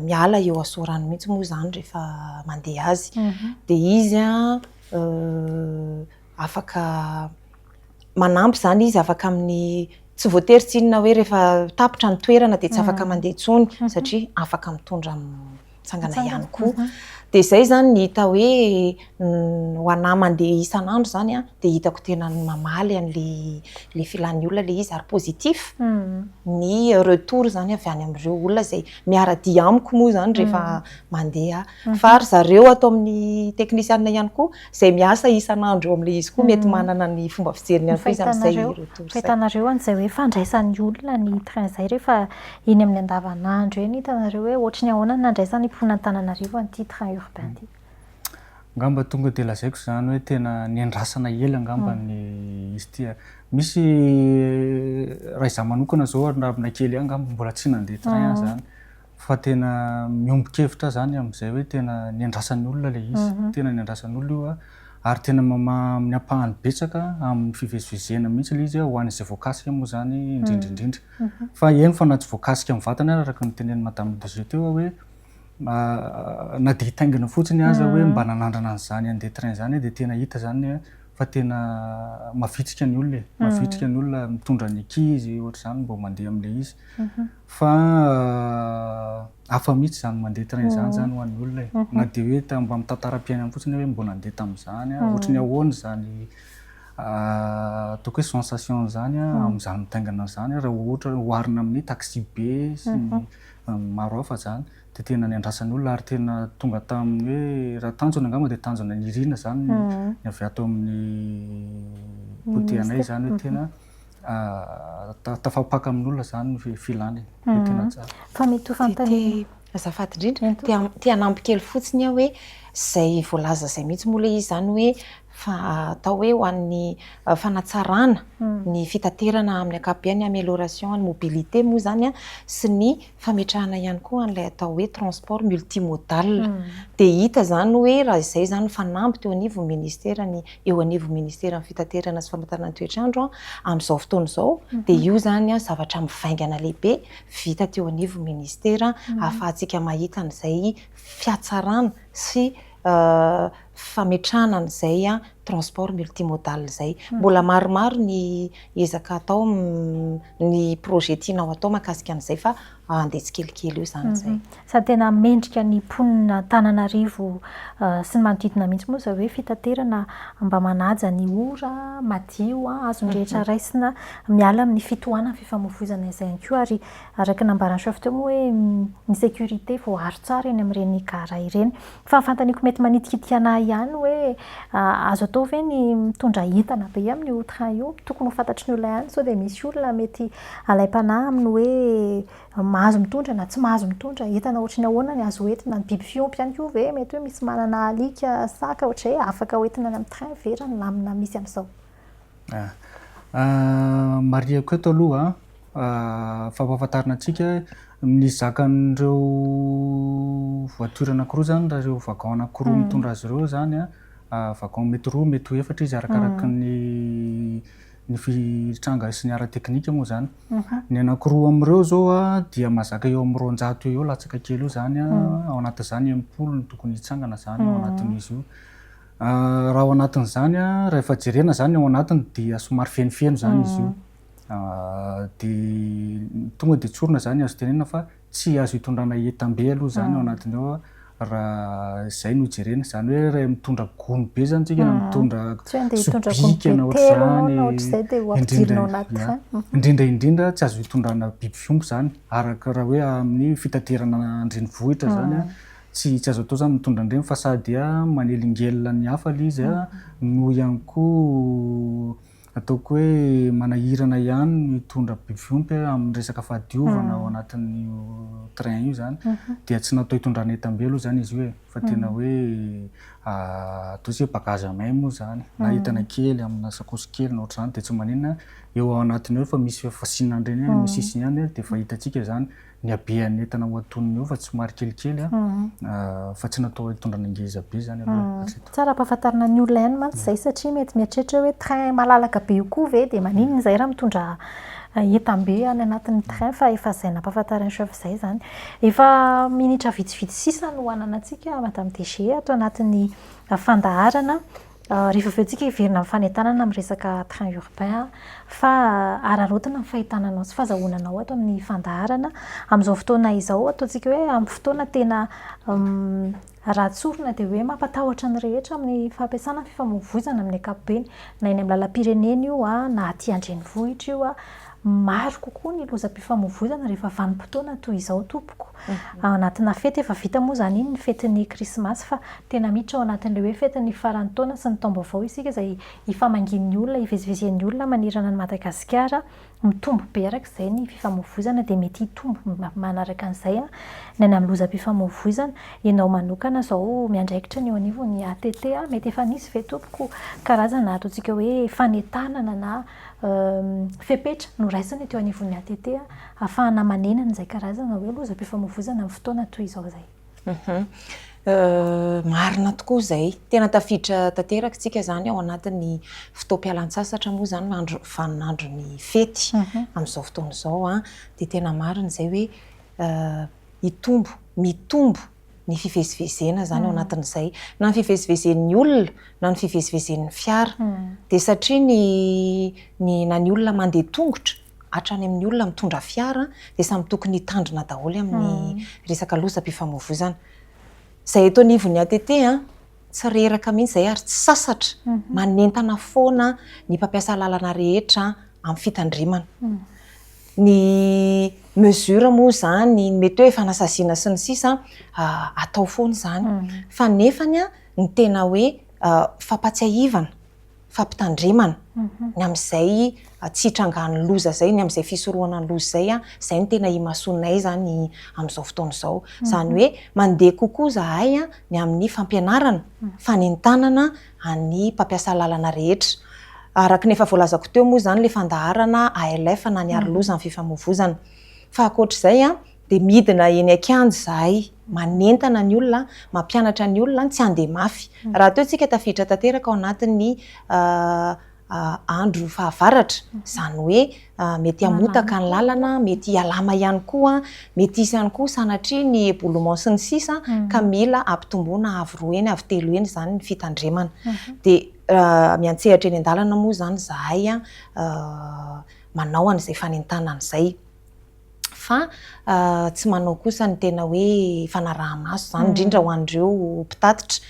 miala eo Asorano mihitsy moa izany rehefa mandeha azy. Dia izy afaka manampy izany izy afaka amin'ny, tsy voatery tsy inona hoe rehefa tapitra ny toerana dia tsy afaka mandeha intsony satria afaka mitondra mitsangana ihany koa. Dia izay izany ny hita hoe Ny ho anah mandeha isan'andro izany an, dia hitako tena mamaly an'ilay filan'ny olona ilay izy ary positif ny retour izany avy any amin'ireo olona izay miara-dia amiko moa izany rehefa mandeha aho. Fa ry zareo ato amin'ny teknisianina ihany koa izay miasa isan'andro eo amin'ilay izy koa mety manana ny fomba fijeriny ihany koa izy amin'izay retour izay. Ny fahitanareo an'izay hoe fandraisan'ny olona ny train izay rehefa eny amin'ny andavanandro eny, hitanareo hoe ohatry ny ahoana ny nandraisan'ny mponin'Antananarivo an'ity train urbain ity? Angamba tonga dia lazaiko izany hoe tena niandrasana ela angamba ny izy ity. Misy raha izaho manokana izao ary raha aminay kely angamba mbola tsy nandeha train aho izany fa tena miombon-kevitra aho izany amin'izay hoe tena niandrasan'ny olona ilay izy. Tena niandrasan'ny olona io ary tena mamaha amin'ny ampahany betsaka amin'ny fivezivezena mihitsy ilay izy ho an'izay voakasika moa izany indrindra indrindra. Fa eny fa na tsy voakasika amin'ny vatana ary araka ny tenenin'i Madame Brigitte teo aho hoe na dia hitaingina fotsiny aza hoe mba nanandrana an'izany handeha train izany dia tena hita izany hoe fa tena mavitrika ny olona e, hmm. mavitrika ny olona mitondra ny ankizy ohatr'izany mba mandeha amin'ilay izy mhm. fa hafa mihitsy izany mandeha train izany izany hmm. ho an'ny olona e hmm. na dia hoe mba amin'ny tantaram-piainany fotsiny hoe mba nandeha tamin'izany a ohatry ny ahoana izany ataoko hoe sensation izany a amin'izany mitaingana izany raha ohatra oharina amin'ny taxi be sy ny maro hafa zany de tena niandrasany olona ary tena tonga taminy hoe raha tanjona angamba de tanjona nirina zany ny avy ato aminy potehanay zany hoe tena tafapaka aminy olona zany ny filany de tena tsara fa mety ho fantanina azafady indrindra te hanampy kely fotsiny aho hoe zay voalaza zay mihitsy moa le izy zany hoe fa atao hoe ho an'ny fanatsarana ny fitaterana amin'ny ankapobeny, amélioration ny mobilité moa izany sy ny fametrahana ihany koa an'ilay atao hoe transport multimodal. Dia hita izany hoe raha izay izany fanamby teo anivon'ny ministera ny eo anivon'ny ministeran'ny fitaterana sy famantarana ny toetr'andro amin'izao fotoana izao dia io izany zavatra mivaingana lehibe vita teo anivon'ny ministera ahafahantsika mahita an'izay fiatsarana sy fametrahana an'izay transport multimodal izay. Mbola maromaro ny ezaka atao, ny projet tianao atao mahakasika an'izay fa andeha tsikelikely eo izany izay. Sady tena mendrika ny mponin'Antananarivo sy ny manodidina mihitsy moa izay hoe fitaterana mba manaja ny ora, madio, azon'ny rehetra raisina, miala amin'ny fitohanan'ny fifamoivoizana izay ihany koa ary araka ny nambaran'i Chef teo moa hoe ny sécurité voaaro tsara eny amin'ireny gara ireny. Fa fantaniko mety manitikitika anah ihany hoe azo atao ve ny mitondra entana be amin io train io? Tokony ho fantatry ny olona ihany sao dia misy olona mety alaim-panahy amin ny hoe mahazo mitondra na tsy mahazo mitondra, entana ohatry ny ahoana ny azo entina? Ny biby fiompy ihany koa ve mety hoe misy manana alika, saka ohatrizay afaka ho entina any amin ny train ve raha ny lamina misy amin'izao? Marihiko eto aloha fa ampahafantarina antsika ny zakan'ireo voiture anankiroa izany raha ireo wagon anankiroa mitondra azy ireo izany wagon mety roa mety ho efatra izy arakaraka ny ny tranga sy ny ara teknika moa izany ny anankiroa amin'ireo izao dia mazaka eo amin'ny roanjato eo ho eo latsaka kely eo izany ao anatin'izany enimpolo no tokony hitsangana izany ao anatin'izy io Raha ao anatin'izany, raha efa jerena izany ny ao anatiny dia somary fenofeno izany izy io. Dia tonga dia tsorina izany azo tenenina fa tsy azo itondrana entam-be aloha izany ao anatiny ao raha izay no jerena. Izany hoe raha mitondra gony be izany isika na mitondra sobika na ohatr'izany, indrindra indrindra tsy azo itondrana biby fiompy izany araka raha hoe amin'ny fitaterana an-drenivohitra izany. Tsy tsy azo atao zany mitondra an'ireny fa sa dia manelingelina ny hafa le izy no ihany koa ataoko hoe manahirana ihany ny hitondra biby fiompy amin'ny resaka fahadiovana ao anatin'io train io zany dia tsy natao hitondrana entam-be aloha zany izy io e! fa tena hoe atao hoe bagage à main moa zany na entana kely amina sakaosy kely na ohatr'izany dia tsy maninona eo ao anatiny eo efa misy fasiana an'ireny any amin'ny sisiny any dia efa hitantsika zany Ny habean'ny entana ho aton'ny hova tsy maro kelikely fa tsy natao hitondrana ngeza be izany aloha hatreto. Tsara ampahafantarina ny olona ihany mantsy izay satria mety mieritreritra hoe train malalaka be io koa ve dia maninona izay raha mitondra entam-be any anatin'ny train fa efa izay nampahafantarin'i chef izay izany. Efa minitra vitsivitsy sisa no hananantsika Madame DG ato anatin'ny fandaharana. Rehefa avy eo tsika hiverina amin'ny fanentanana amin'ny resaka train urbain an, fa araraotina ny fahitana anao sy fazahoana anao ato amin'ny fandaharana. Amin'izao fotoana izao ataontsika hoe amin'ny fotoana tena raha tsorina dia hoe mampatahotra ny rehetra amin'ny fampiasana ny fifamoivoizana amin'ny ankapobeny. Na eny amin'ny lalam-pirenena io an, na aty an-drenivohitra io an. Maro kokoa ny lozam-pifamoivoizana rehefa vanim-potoana toy izao tompoko. Ao anatina fety, efa vita moa izany iny ny fetin'ny krismasy fa tena miditra ao anatin'ilay hoe fetin'ny faran'ny taona sy ny taom-baovao isika izay ifamangian'ny olona, ivezivezen'ny olona manerana an'i Madagasikara. Mitombo be araka izay ny fifamoivoizana dia mety hitombo manaraka an'izay ny any amin'ny lozam-pifamoivoizana. Ianao manokana izao miandraikitra ny eo anivon'ny ATT mety efa nisy ve tompoko karazana ataontsika hoe fanentanana na fepetra noraisina teo anivon'ny ATT hahafahana manena an'izay karazana hoe lozam-pifamoivoizana amin'ny fotoana toy izao izay. Marina tokoa izay. Tena tafiditra tanteraka isika izany ao anatin'ny fotoam-pialantsasatra moa izany ny andro vaninandron'ny fety amin'izao fotoana izao. Dia tena marina izay hoe hitombo, mitombo ny fivezivezena izany ao anatin'izay, na ny fivezivezen'ny olona na ny fivezivezen'ny fiara. Dia satria ny ny na ny olona mandeha tongotra hatrany amin'ny olona mitondra fiara dia samy tokony hitandrina daholo amin'ny resaka lozam-pifamoivoizana. Izay eto anivon'ny ATT tsy reraka mihitsy izay ary tsy sasatra, manentana foana ny mpampiasa lalana rehetra amin'ny fitandremana. ny mesure moa izany, ny mety hoe fanasaziana sy ny sisa atao foana izany. Fa nefany ny tena hoe fampatsiahivana, fampitandremana ny amin'izay tsy hitrangan'ny loza izay, ny amin'izay fisorohana ny loza izay, izay no tena imasoanay izany amin'izao fotoana izao. Izany hoe mandeha kokoa izahay ny amin'ny fampianarana, fanentanana. an'ny mpampiasa lalana rehetra. Araka ny efa voalazako teo moa izany ilay fandaharana ALF na ny Aroloza amin'ny fifamoivoizana. Fa ankoatra izay dia midina eny an-kianja izahay manentana ny olona, mampianatra ny olona ny tsy handeha mafy. Rahateo isika tafiditra tanteraka ao anatin'ny andro fahavaratra, izany hoe mety hamotaka ny lalana, mety hialama ihany koa, mety hisy ihany koa sanatria ny éboulement sy ny sisa ka mila hampitomboina avo roa heny avo telo heny izany ny fitandremana. Dia miantsehatra eny an-dalana moa izany izahay manao an'izay fanentanana izay. fa tsy manao kosa ny tena hoe fanaraha-maso izany, indrindra ho an'ireo mpitatitra.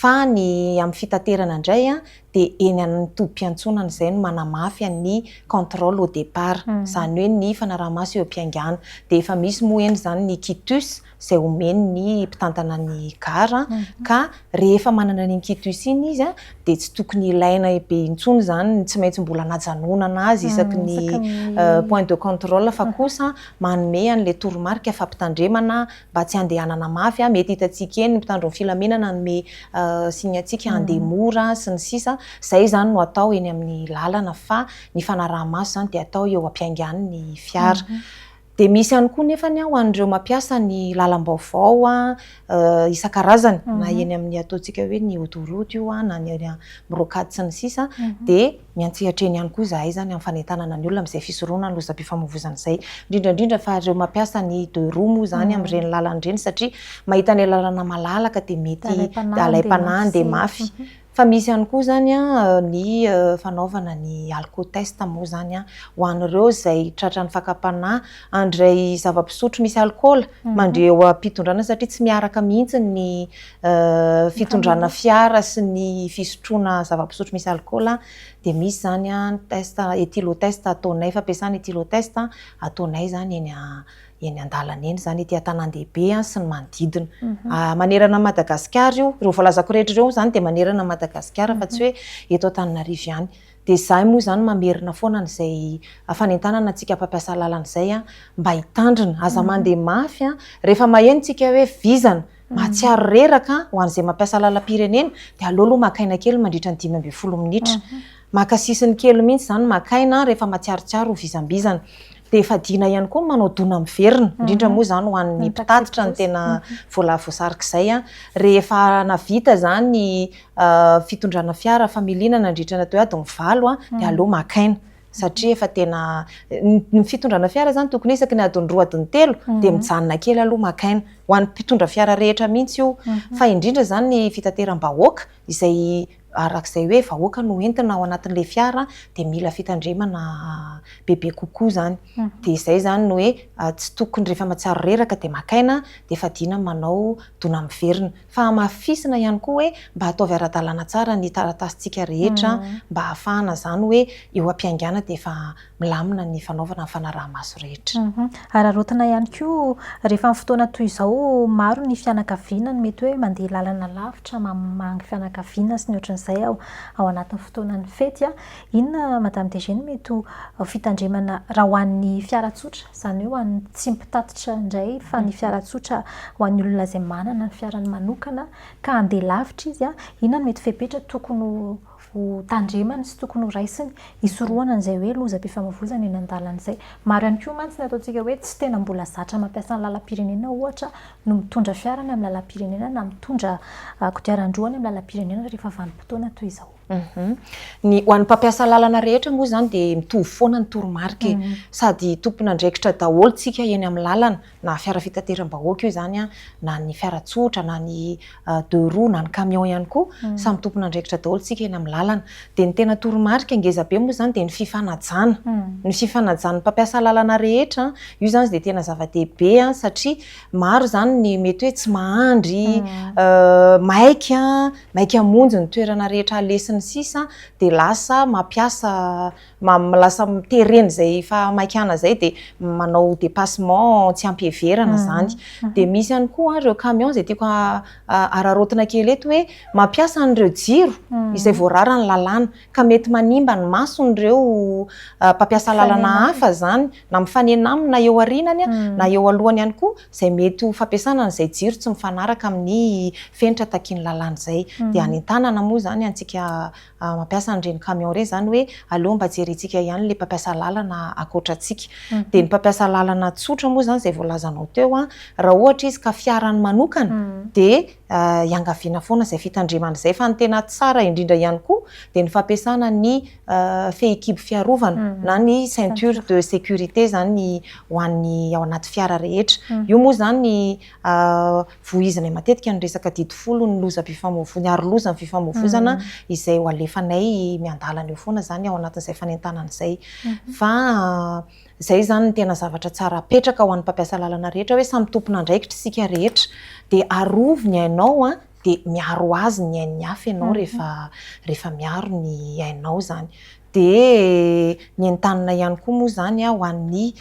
Fa ny amin'ny fitaterana indray dia eny amin'ny tobim-piantsonana izay no manamafy ny contrôle au départ, izany hoe ny fanaraha-maso eo am-piaingana. Dia efa misy moa eny izany ny quitus, izay omeny ny mpitantana ny gara ka rehefa manana an'iny quitus iny izy dia tsy tokony ilaina be intsony izany ny tsy maintsy mbola anajanonana azy isaky ny point de contrôle fa kosa manome an'ilay toromarika fampitandremana mba tsy handehanana mafy, mety hitantsika eny ny mpitandro ny filaminana hanome signe antsika handeha mora sy ny sisa, izay izany no atao eny amin'ny lalana fa ny fanaraha-maso izany dia atao eo am-piaingan'ny fiara. Dia misy ihany koa nefa ny ho an'ireo mampiasa ny lalam-baovao isan-karazany na eny amin'ny ataontsika hoe ny autoroute io na ny eny amin'ny rocade sy ny sisa dia miantsehatra eny ihany koa izahay izany amin'ny fanentanana ny olona amin'izay fisoronana ny lozam-pifamoivoizana izay. Indrindra indrindra fa ireo mampiasa ny deux roues moa izany amin'ireny lalana ireny satria mahita ilay lalana malalaka dia mety alaim-panahy handeha mafy. Fa misy ihany koa izany ny fanaovana ny alkotest moa izany ho an'ireo izay tratran'ny fakam-panahy, handray zava-pisotro misy alkaola mandre eo am-pitondrana satria tsy miaraka mihitsy ny fitondrana fiara sy ny fisotroana zava-pisotro misy alkaola dia misy izany ny test etylotest ataonay, fampiasana etylotest ataonay izany eny eny an-dalana eny izany, ety an-tanàn-dehibe sy ny manodidina. Manerana an'i Madagasikara io. Ireo voalazako rehetra ireo izany dia manerana an'i Madagasikara fa tsy hoe eto Antananarivo ihany. Dia izahay moa izany mamerina foana an'izay fanentanana antsika mpampiasa lalana izay mba hitandrina. Aza mandeha mafy, rehefa maheno isika hoe vizana, Mahatsiaro reraka an, ho an'izay mampiasa lalam-pirenena dia aleo aloha maka aina kely mandritra ny dimy ambin'ny folo minitra. Maka sisiny kely mihitsy izany maka aina rehefa matsiarotsiaro ho vizambizana. Dia fadiana ihany koa ny manao dona miverina, indrindra moa izany ho an'ny mpitatitra no tena voala voasarik'izay an. Rehefa navita izany ny fitondrana fiara familiana nandritra ny atody valo an dia aleo maka aina. satria efa tena ny fitondrana fiara izany tokony isaky ny adiny roa adiny telo mhm. dia mijanona kely aloha maka aina ho an'ny mpitondra fiara rehetra mihitsy io mhm. fa indrindra izany ny fitateram-bahoaka izay arak'izay hoe vahoaka no entina ao anatin'ilay fiara dia mila fitandremana bebe kokoa izany mhm. dia izay izany no hoe ah, tsy tokony rehefa matsiaro reraka dia maka aina dia fadiana manao dona miverina fa hamafisina ihany koa hoe mba ataovy ara-dalàna tsara ny taratasintsika rehetra mba hahafahana izany hoe eo am-piaingàna dia efa milamina ny fanaovana ny fanaraha-maso rehetra. Araraotina ihany koa rehefa amin'ny fotoana toy izao maro ny fianakaviana no mety hoe mandeha làlana lavitra mamangy fianakaviana sy ny ohatran'izay ao anatin'ny fotoanan'ny fety Inona Madame DG no mety ho fitandremana raha ho an'ny fiara tsotra, izany hoe ho an'ny tsy mpitatitra indray fa ny fiara tsotra ho an'ny olona izay manana ny fiarany manokana ka handeha lavitra izy, inona no mety fepetra tokony ho tandremany sy tokony ho raisiny hisorohana an'izay hoe lozam-pifamoivoizana eny an-dalana izay. Maro ihany koa mantsy ny ataontsika hoe tsy tena mbola zatra mampiasa ny lalam-pirenena ohatra no mitondra fiara any amin'ny lalam-pirenena na mitondra kodiaran-droa any amin'ny lalam-pirenena rehefa vanim-potoana toy izao. Ny ho an'ny mpampiasa lalana rehetra moa izany dia mitovy foana ny toromarika e. Mhm. Sady tompon'andraikitra daholo tsika eny amin'ny lalana, na fiara fitateram-bahoaka io izany an, na ny fiara tsotra, na ny euh, deux roues, na ny camion ihany koa, mhm. samy tompon'andraikitra daholo tsika eny amin'ny lalana. Dia ny tena toromarika ngeza be moa izany dia ny fifanajana. Mhm. Ny fifanajan'ny mpampiasa lalana rehetra, io izany dia tena zava-dehibe satria Maro izany ny mety hoe tsy mahandry, maika, maika hamonjy ny toerana rehetra halesiny sisa dia lasa mampiasa, lasa terena izay fahamaikana izay dia manao dépassement tsy ampiheverana izany. Dia misy ihany koa ireo camion izay tiako hararaotina kely eto hoe mampiasa an'ireo jiro izay voararan'ny lalàna ka mety manimba ny mason'ireo mpampiasa lalana hafa izany na mifanena aminy na eo arinany na eo alohany ihany koa izay mety ho fampiasana an'izay jiro tsy mifanaraka amin'ny fenitra takian'ny lalàna izay. Dia any an-tanana moa izany antsika mampiasa an'ireny camion ireny izany hoe aleo mba jerentsika ihany ilay mpampiasa lalana ankoatra antsika. Dia ny mpampiasa lalana tsotra moa izany izay voalazanao teo raha ohatra izy ka fiarany manokana dia iangaviana foana izay fitandremana izay fa ny tena tsara indrindra ihany koa dia ny fampiasana ny fehikibo fiarovana na ny ceinture de sécurité izany ho an'ny ao anaty fiara rehetra. Io moa izany vohizanay matetika ny resaka didy folo ny lozam-pifamoivoizana, ny aroloza ny fifamoivoizana izay ho alefanay miandalana eo foana izany ao anatin'izay fanentanana izay. Fa izay izany no tena zavatra tsara apetraka ho an'ny mpampiasa lalana rehetra hoe samy tompon'andraikitra isika rehetra dia arovy ny ainao dia miaro azy ny ain'ny hafa ianao rehefa rehefa miaro ny ainao izany. Dia ny entanina ihany koa moa izany ho an'ny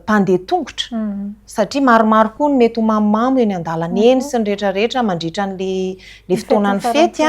mpandeha tongotra satria maromaro koa no mety ho mamomamo eny an-dalana eny sy ny rehetra rehetra mandritra an'ilay fotoanan'ny fety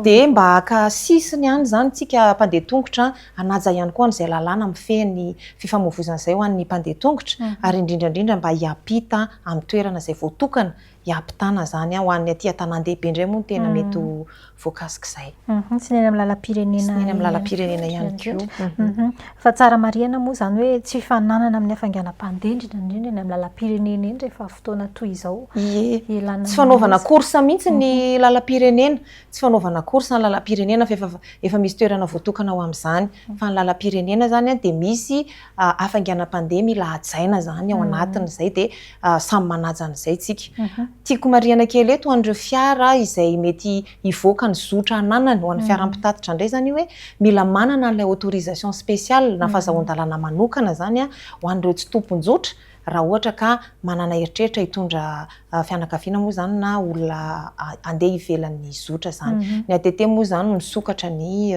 dia mba haka sisiny ihany izany isika mpandeha tongotra hanaja ihany koa an'izay lalàna mifehy ny fifamoivoizana izay ho an'ny mpandeha tongotra ary indrindra indrindra mba hiampita amin'ny toerana izay voatokana hiampitana izany ho an'ny aty an-tanàn-dehibe indray moa no tena mety ho voakasik'izay. Sy ny eny amin'ny lalam-pirenena. Sy ny eny amin'ny lalam-pirenena ihany koa. Fa tsara marihana moa izany hoe tsy fifaninanana amin'ny hafainganam-pandendrina indrindra eny amin'ny lalam-pirenena eny rehefa fotoana toy izao. Ie. Tsy fanaovana course mihitsy ny lalam-pirenena. Tsy fanaovana course ny lalam-pirenena fa efa misy toerana voatokana ho amin'izany. Fa ny lalam-pirenena izany dia misy hafainganam-pandeha mila hajaina izany ao anatin'izay dia samy manaja an'izay isika. Tiako marihana kely eto ho an'ireo fiara izay mety hivoaka ny zotra ananany, ho an'ny fiara mpitatitra indray izany io hoe mila manana an'ilay autorisation spéciale na fahazahon-dalana manokana izany ho an'ireo tsy tompon-jotra raha ohatra ka manana eritreritra hitondra fianakaviana moa izany na olona handeha ivelan'ny zotra izany. Ny ATT moa izany misokatra ny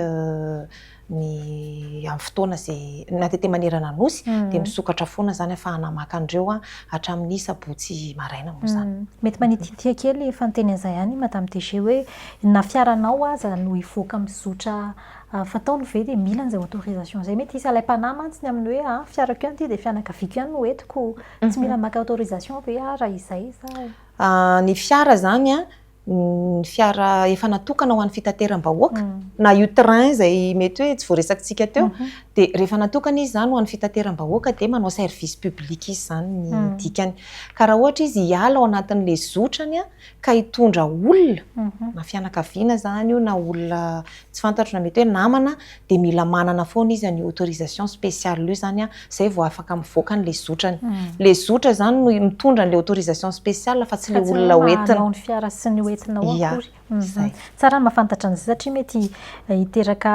ny amin'ny fotoana izay na dia te manerana nosy dia misokatra foana izany afahana maka an'ireo hatramin'ny sabotsy maraina moa izany. Mety manititia kely efa niteny an'izay ihany i Madame DG hoe na fiaranao aza no hivoaka mizotra fataony ve dia mila an'izay autorisation izay? Mety hisy alaim-panahy mantsy ny amin'ny hoe a, fiarako ihany ity dia fianakaviako ihany no entiko, tsy mila maka autorisation ve aho raha izay izaho? Ny fiara izany ny fiara efa natokana ho an'ny fitateram-bahoaka na io train izay mety hoe tsy voaresakitsika teo mhm. dia rehefa natokana izy izany ho an'ny fitateram-bahoaka dia manao service public izy izany ny mhm. dikany ka raha ohatra izy hiala ao anatin'ilay zotrany ka hitondra olona mhm. na fianakaviana izany io na olona tsy fantatro na mety hoe namana, dia mila manana foana izy an'io autorisation spéciale io izany, izay vao afaka mivoaka an'ilay zotrany. Ilay zotra izany no mitondra an'ilay autorisation spéciale fa tsy ilay olona hoentina. Fa tsy ilay maha-anao ny fiara sy ny hoentina ao akory. Izay. Tsara ny mahafantatra an'izay satria mety hiteraka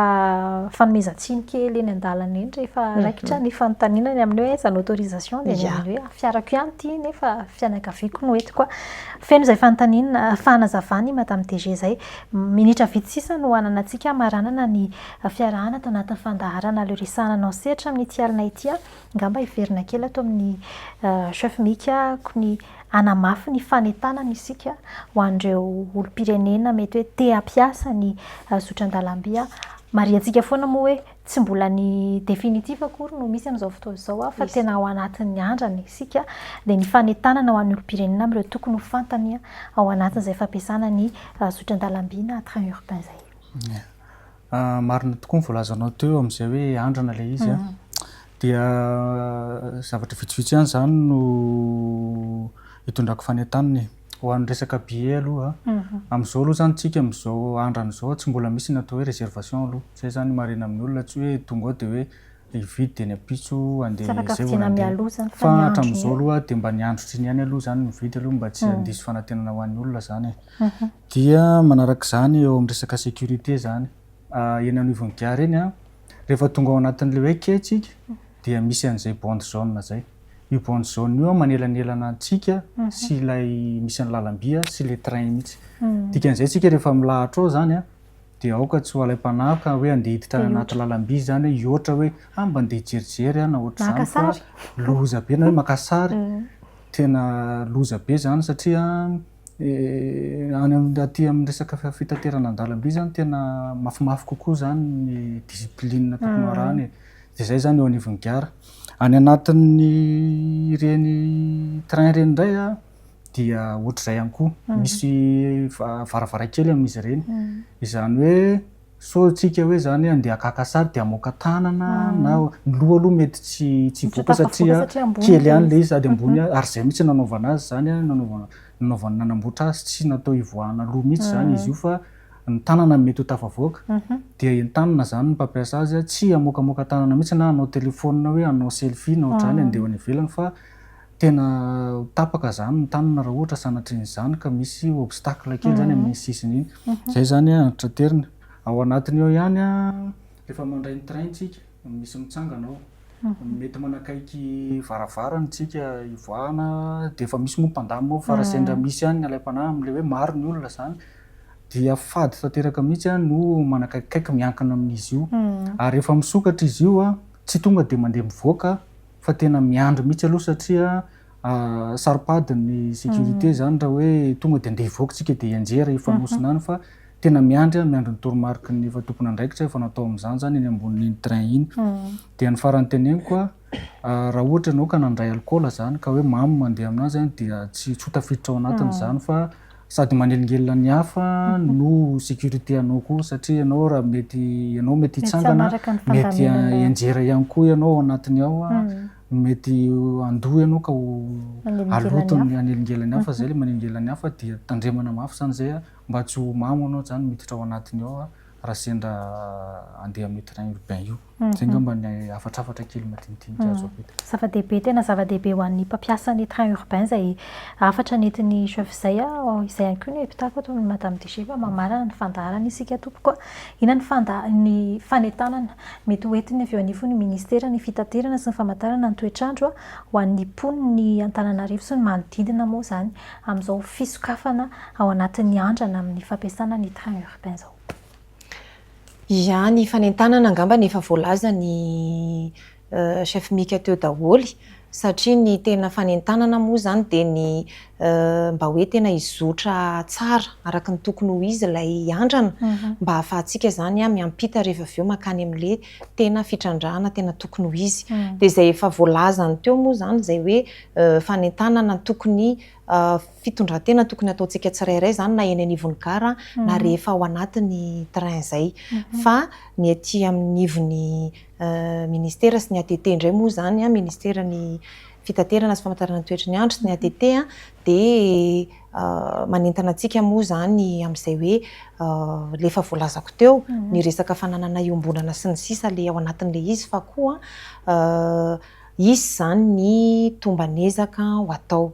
fanomezan-tsiny kely eny an-dalana eny rehefa raikitra ny fanontaniana ny amin'ny hoe aiza ny autorisation dia ny amin'ny hoe fiarako ihany ity nefa fianakaviako no hoentiko. Feno izay fanontaniana, fanazavana i Madame DG izay. Minitra vitsy sisa no hananantsika hamaranana ny fiarahana ato anatin'ny fandaharana Le Resahana anao sehatra amin'ity alina ity aho. Angamba hiverina kely ato amin'ny Chef Mika ko ny hanamafy ny fanentanana isika ho an'ireo olom-pirenena mety hoe te hampiasa ny zotran-dalamby. Marihantsika foana moa hoe Tsy mbola ny définitif akory no misy amin'izao fotoana izao an, fa tena ao anatin'ny andrana isika, dia ny fanentanana ho an'ny olom-pirenena amin'ireo tokony ho fantany ao anatin'izay fampiasana ny zotran-dalamby na train urbain izay. Ie. Marina tokoa ny voalazanao teo amin'izay hoe andrana ilay izy an, dia zavatra vitsivitsy ihany izany no itondrako fanentanana e. ho an'ny resaka billet aloha amin'izao aloha zany tsika amin'izao andrana izao tsy mbola misy ny atao hoe reservation aloha zay zany ny marihina amin'ny olona tsy hoe tonga ao de hoe hividy de ny ampitso andeha zay vao nandeha, tsy afaka vidiana mialoha zany fa miandry, fa hatramin'izao aloha dia mba ny andro otriny ihany aloha zany ny mividy aloha mba tsy handiso fanantenana ho an'ny olona zany e, dia manaraka izany eo amin'ny resaka sécurité zany eny anivon'ny gare eny an, rehefa tonga ao anatin'ilay hoe quai tsika dia misy an'izay bande jaune zay. Io bande jaune io manelanelana antsika sy ilay misy ny lalamby sy le train mihitsy. Dikan'izay tsika rehefa milahatra ao zany a de aoka tsy ho alaim-panahy ka hoe andeha hiditra any anaty lalamby zany hoe hihoatra hoe ah mba andeha hijerijery aho na ohatr'izany fa loza be na hoe maka sary. Tena loza be zany satria any am- aty amin'ny resaka fitaterana an-dalamby zany tena mafimafy kokoa zany ny discipline tokony ho arahana e. De zay zany eo anivon'ny gara. Any anatin'ny ireny train ireny indray a, dia ohatr'izay ihany koa, misy varavarankely amin'izy ireny, izany hoe sao isika hoe izany handeha haka sary dia hamoaka tanana na, ny loha aloha mety tsy tsy hivoaka satria kely ihany ilay izy sady ambony ihany, ary izay mihitsy no nanaovana azy izany a, nanaovana nanaovana nanamboatra azy, tsy natao hivoahana loha mihitsy izany izy io fa. ny tanana no mety ho tafavoaka dia entanina izany ny mpampiasa azy tsy hamoakamoaka tanana mihitsy na hanao telephone hoe hanao selfie na ohatr'izany handeha ho any ivelany fa tena ho tapaka izany ny tanana raha ohatra sanatrian'izany ka misy obstacle kely izany amin'iny sisiny iny. Izay izany an traterina. Ao anatiny ao ihany an rehefa mandray ny train tsika misy mitsangana ao mety manakaiky varavarana tsika hivoahana dia efa misy moa mpandamina ao fa raha sendra misy ihany ny alaim-panahy amin'ilay hoe maro ny olona izany dia fady tanteraka mihitsy no manakaikikaiky miankina amin'izy io ary rehefa misokatra izy io tsy tonga dia mandeha mivoaka fa tena miandry mihitsy aloha satria saro-padin'ny sécurité izany raha hoe tonga dia andeha hivoaka isika dia hianjera hifanosona any fa tena miandry, miandry ny toromariky ny efa tompon'andraikitra efa natao amin'izany izany eny ambonin'iny train iny. Dia ny faran'ny teneniko, raha ohatra ianao ka nandray alikaola izany ka hoe mamy mandeha amin'azy an, dia tsy tsy ho tafiditra ao anatiny izany fa sady manelingelina ny hafa no sécurité anao koa satria ianao raha mety ianao mety hitsangana mety hianjera ihany koa ianao ao anatiny ao mety handoa ianao ka ho haloto ny hanelingelina ny hafa izay ilay manelingelina ny hafa dia tandremana mafy izany izay mba tsy ho mamo ianao izany miditra ao anatiny ao raha sendra andeha amin'io train urbain io. Izay angamba ny hafatrafatra kely madinidinika azo avita. Zava-dehibe, tena zava-dehibe ho an'ny mpampiasa ny train urbain izay hafatra nentin'ny chef izay aho. Izay ihany koa no hevitako ato amin'i Madame DG fa mba marina ny fandaharana isika tompoko a! Inona ny fanda, ny fanentanana mety ho entiny avy eo anivon'ny Ministera ny fitaterana sy ny famantarana ny toetr'andro a! ho an'ny mponin'ny Antananarivo sy ny manodidina moa izany amin'izao fisokafana ao anatin'ny andrana amin'ny fampiasana ny train urbain. Ohatr'izao. Ia ny fanentanana angamba efa voalaza ny chef Mika teo daholo satria ny tena fanentanana moa izany dia ny mba hoe tena hizotra tsara araka ny tokony ho izy ilay andrana mba ahafahantsika izany miampita rehefa avy eo mankany amin'ilay tena fitrandrahana tena tokony ho izy. Dia izay efa voalazany teo moa izany izay hoe fanentanana tokony Fitondran-tena tokony ataontsika tsirairay izany na eny anivon'ny gara na rehefa ao anatin'ny train izay. Fa ny aty amin'ivon'ny ministera sy ny ATT indray moa izany, ministeran'ny fitaterana sy famantarana ny toetry ny andro sy ny ATT dia manentana antsika moa izany amin'izay hoe ilay efa voalazako teo, ny resaka fananana iombonana sy ny sisa ilay ao anatin'ilay izy fa koa Hisy izany ny tomban'ezaka ho atao.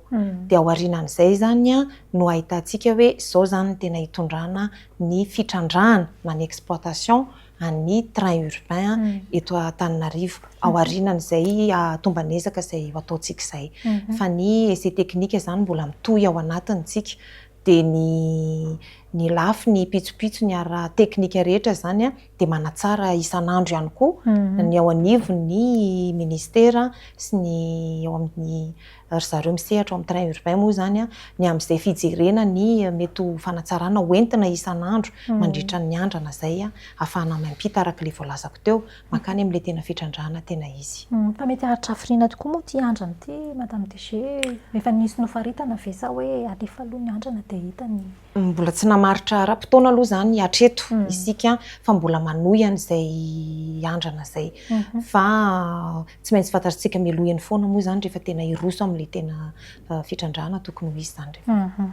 Dia ao aorianan'izay izany no ahitantsika hoe izao izany no tena hitondrana ny fitrandrahana na ny exploitation an'ny train urbain eto Antananarivo. Ao aorianan'izay tomban'ezaka izay ho ataontsika izay. Fa ny essai technique izany mbola mitohy ao anatiny tsika. dia ny ny lafiny pitsopitsony ara-teknika rehetra izany dia manatsara isan'andro ihany koa ny ao anivon'ny Ministera sy ny eo amin'ny ry zareo misehatra ao amin'ny train urbain moa izany ny amin'izay fijerena ny mety ho fanatsarana ho entina isan'andro mandritra ny andrana izay ahafahana miampita araka ilay voalazako teo. mankany amin'ilay tena fitrandrahana tena izy. Fa mety hahatrafirina tokoa moa ity andrana ity Madame DG e! Efa nisy nofaritana ve sa hoe alefa aloha ny andrana dia hita ny. Mbola tsy namaritra ara-potoana aloha izany hatreto isika fa mbola manohy an'izay andrana izay. Fa Tsy maintsy fantatritsika mialoha eny foana moa izany rehefa tena hiroso amin'ilay tena fitrandrahana tokony ho izy izany rehefa.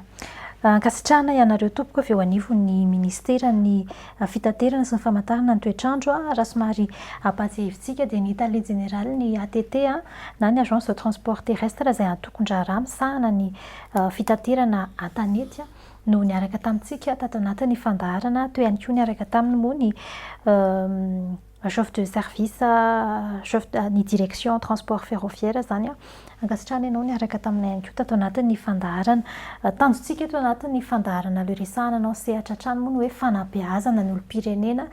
Ankasitrahana ianareo tompoko avy eo anivon'ny Minisiteran'ny Fitaterana sy ny Famantarana ny Toetr'andro. Raha somary ampahatsiahivintsika dia ny Tale Jeneralin'ny ATT na ny Agence de Transport Terrestre izay antokon-draharaha misahana ny fitaterana an-tanety no niaraka tamintsika tato anatin'ny fandaharana. Teo ihany koa niaraka taminy moa ny. chef de service chef ny direction transport ferroviaire zany a, ankasitrahana ianao niaraka taminay ihany koa tato anatin'ny fandaharana. Tanjontsika eto anatin'ny fandaharana le resahana anao sehatra hatrany moa ny hoe fanabeazana ny olom-pirenena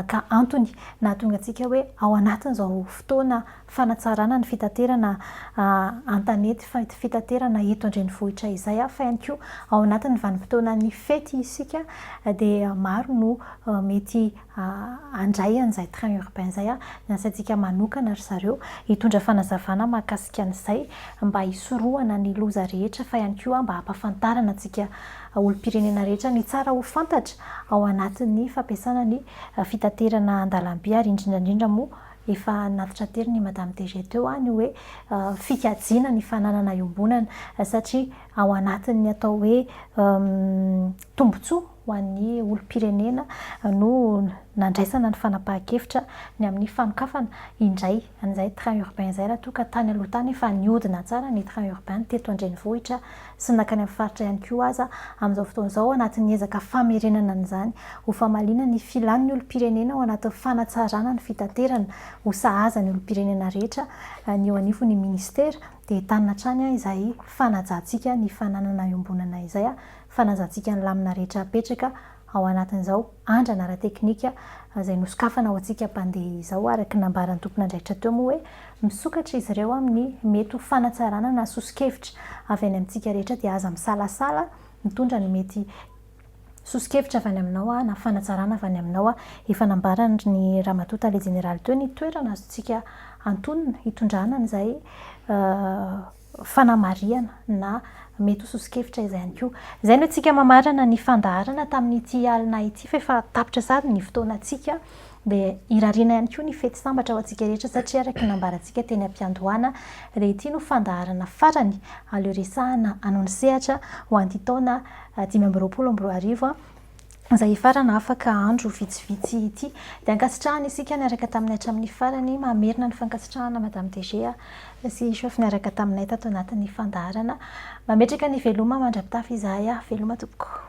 ka antony nahatonga antsika hoe ao anatin'izao fotoana fanatsarana ny fitaterana an-tanety fitaterana eto an-drenivohitra izay a, fa ihany koa ao anatin'ny vanim-potoanan'ny fety isika dia maro no mety handray an'izay train urbain izay ny asantsika manokana ry zareo hitondra fanazavana mahakasika an'izay mba hisorohana ny loza rehetra fa ihany koa mba hampafantarana antsika olom-pirenena rehetra ny tsara ho fantatra ao anatin'ny fampiasana ny fitaterana an-dalamby ary indrindra indrindra moa efa natitra tery ny madame DG teo ny hoe fikajiana ny fananana iombonana satria ao anatin'ny atao hoe tombotsoa ho an'ny olom-pirenena no nandraisana ny fanapahan-kevitra ny amin'ny fanokafana indray an'izay train urbain izay raha toa ka tany aloha tany efa nihodina tsara ny train urbain teto an-drenivohitra sy nankany amin'ny faritra ihany koa aza, amin'izao fotoana izao anatin'ny ezaka famerenana an'izany ho famaliana ny filan'ny olom-pirenena ao anatin'ny fanatsarana ny fitaterana ho sahaza ny olom-pirenena rehetra ny eo anivon'ny minisitera dia entanina hatrany izay fanajantsika ny fananana iombonana izay fanazantsika ny lamina rehetra apetraka ao anatin'izao andrana ara-teknika izay nosokafana ho antsika mpandeha izao, araka ny nambaran'ny tompon'andraikitra teo moa hoe misokatra izy ireo amin'ny mety ho fanatsarana na soso-kevitra avy any amintsika rehetra dia aza misalasala mitondra ny mety soso-kevitra avy any aminao aho na fanatsarana avy any aminao aho. Efa nambaran'ny Ramatoa Tale Jeneraly teo ny toerana azontsika antonona hitondrana an'izay fanamarihana na mety ho soso-kevitra izay ihany koa. Izay no antsika mamarana ny fandaharana tamin'ity alina ity fa efa tapitra sahady ny fotoanantsika dia irariana ihany koa ny fety sambatra ho antsika rehetra satria araka ny nambarantsika teny am-piandohana dia ity no fandaharana farany aleo resahana anao ny sehatra ho an'ity taona dimy amby roapolo amby roa arivo izay hifarana afaka andro vitsivitsy ity. Dia ankasitrahana isika niaraka taminay hatramin'ny farany. Mamerina ny fankasitrahana Madame DG sy Chef niaraka taminay tato anatin'ny fandaharana. Mametraka ny veloma mandra-pitafy izahay. Veloma tompoko.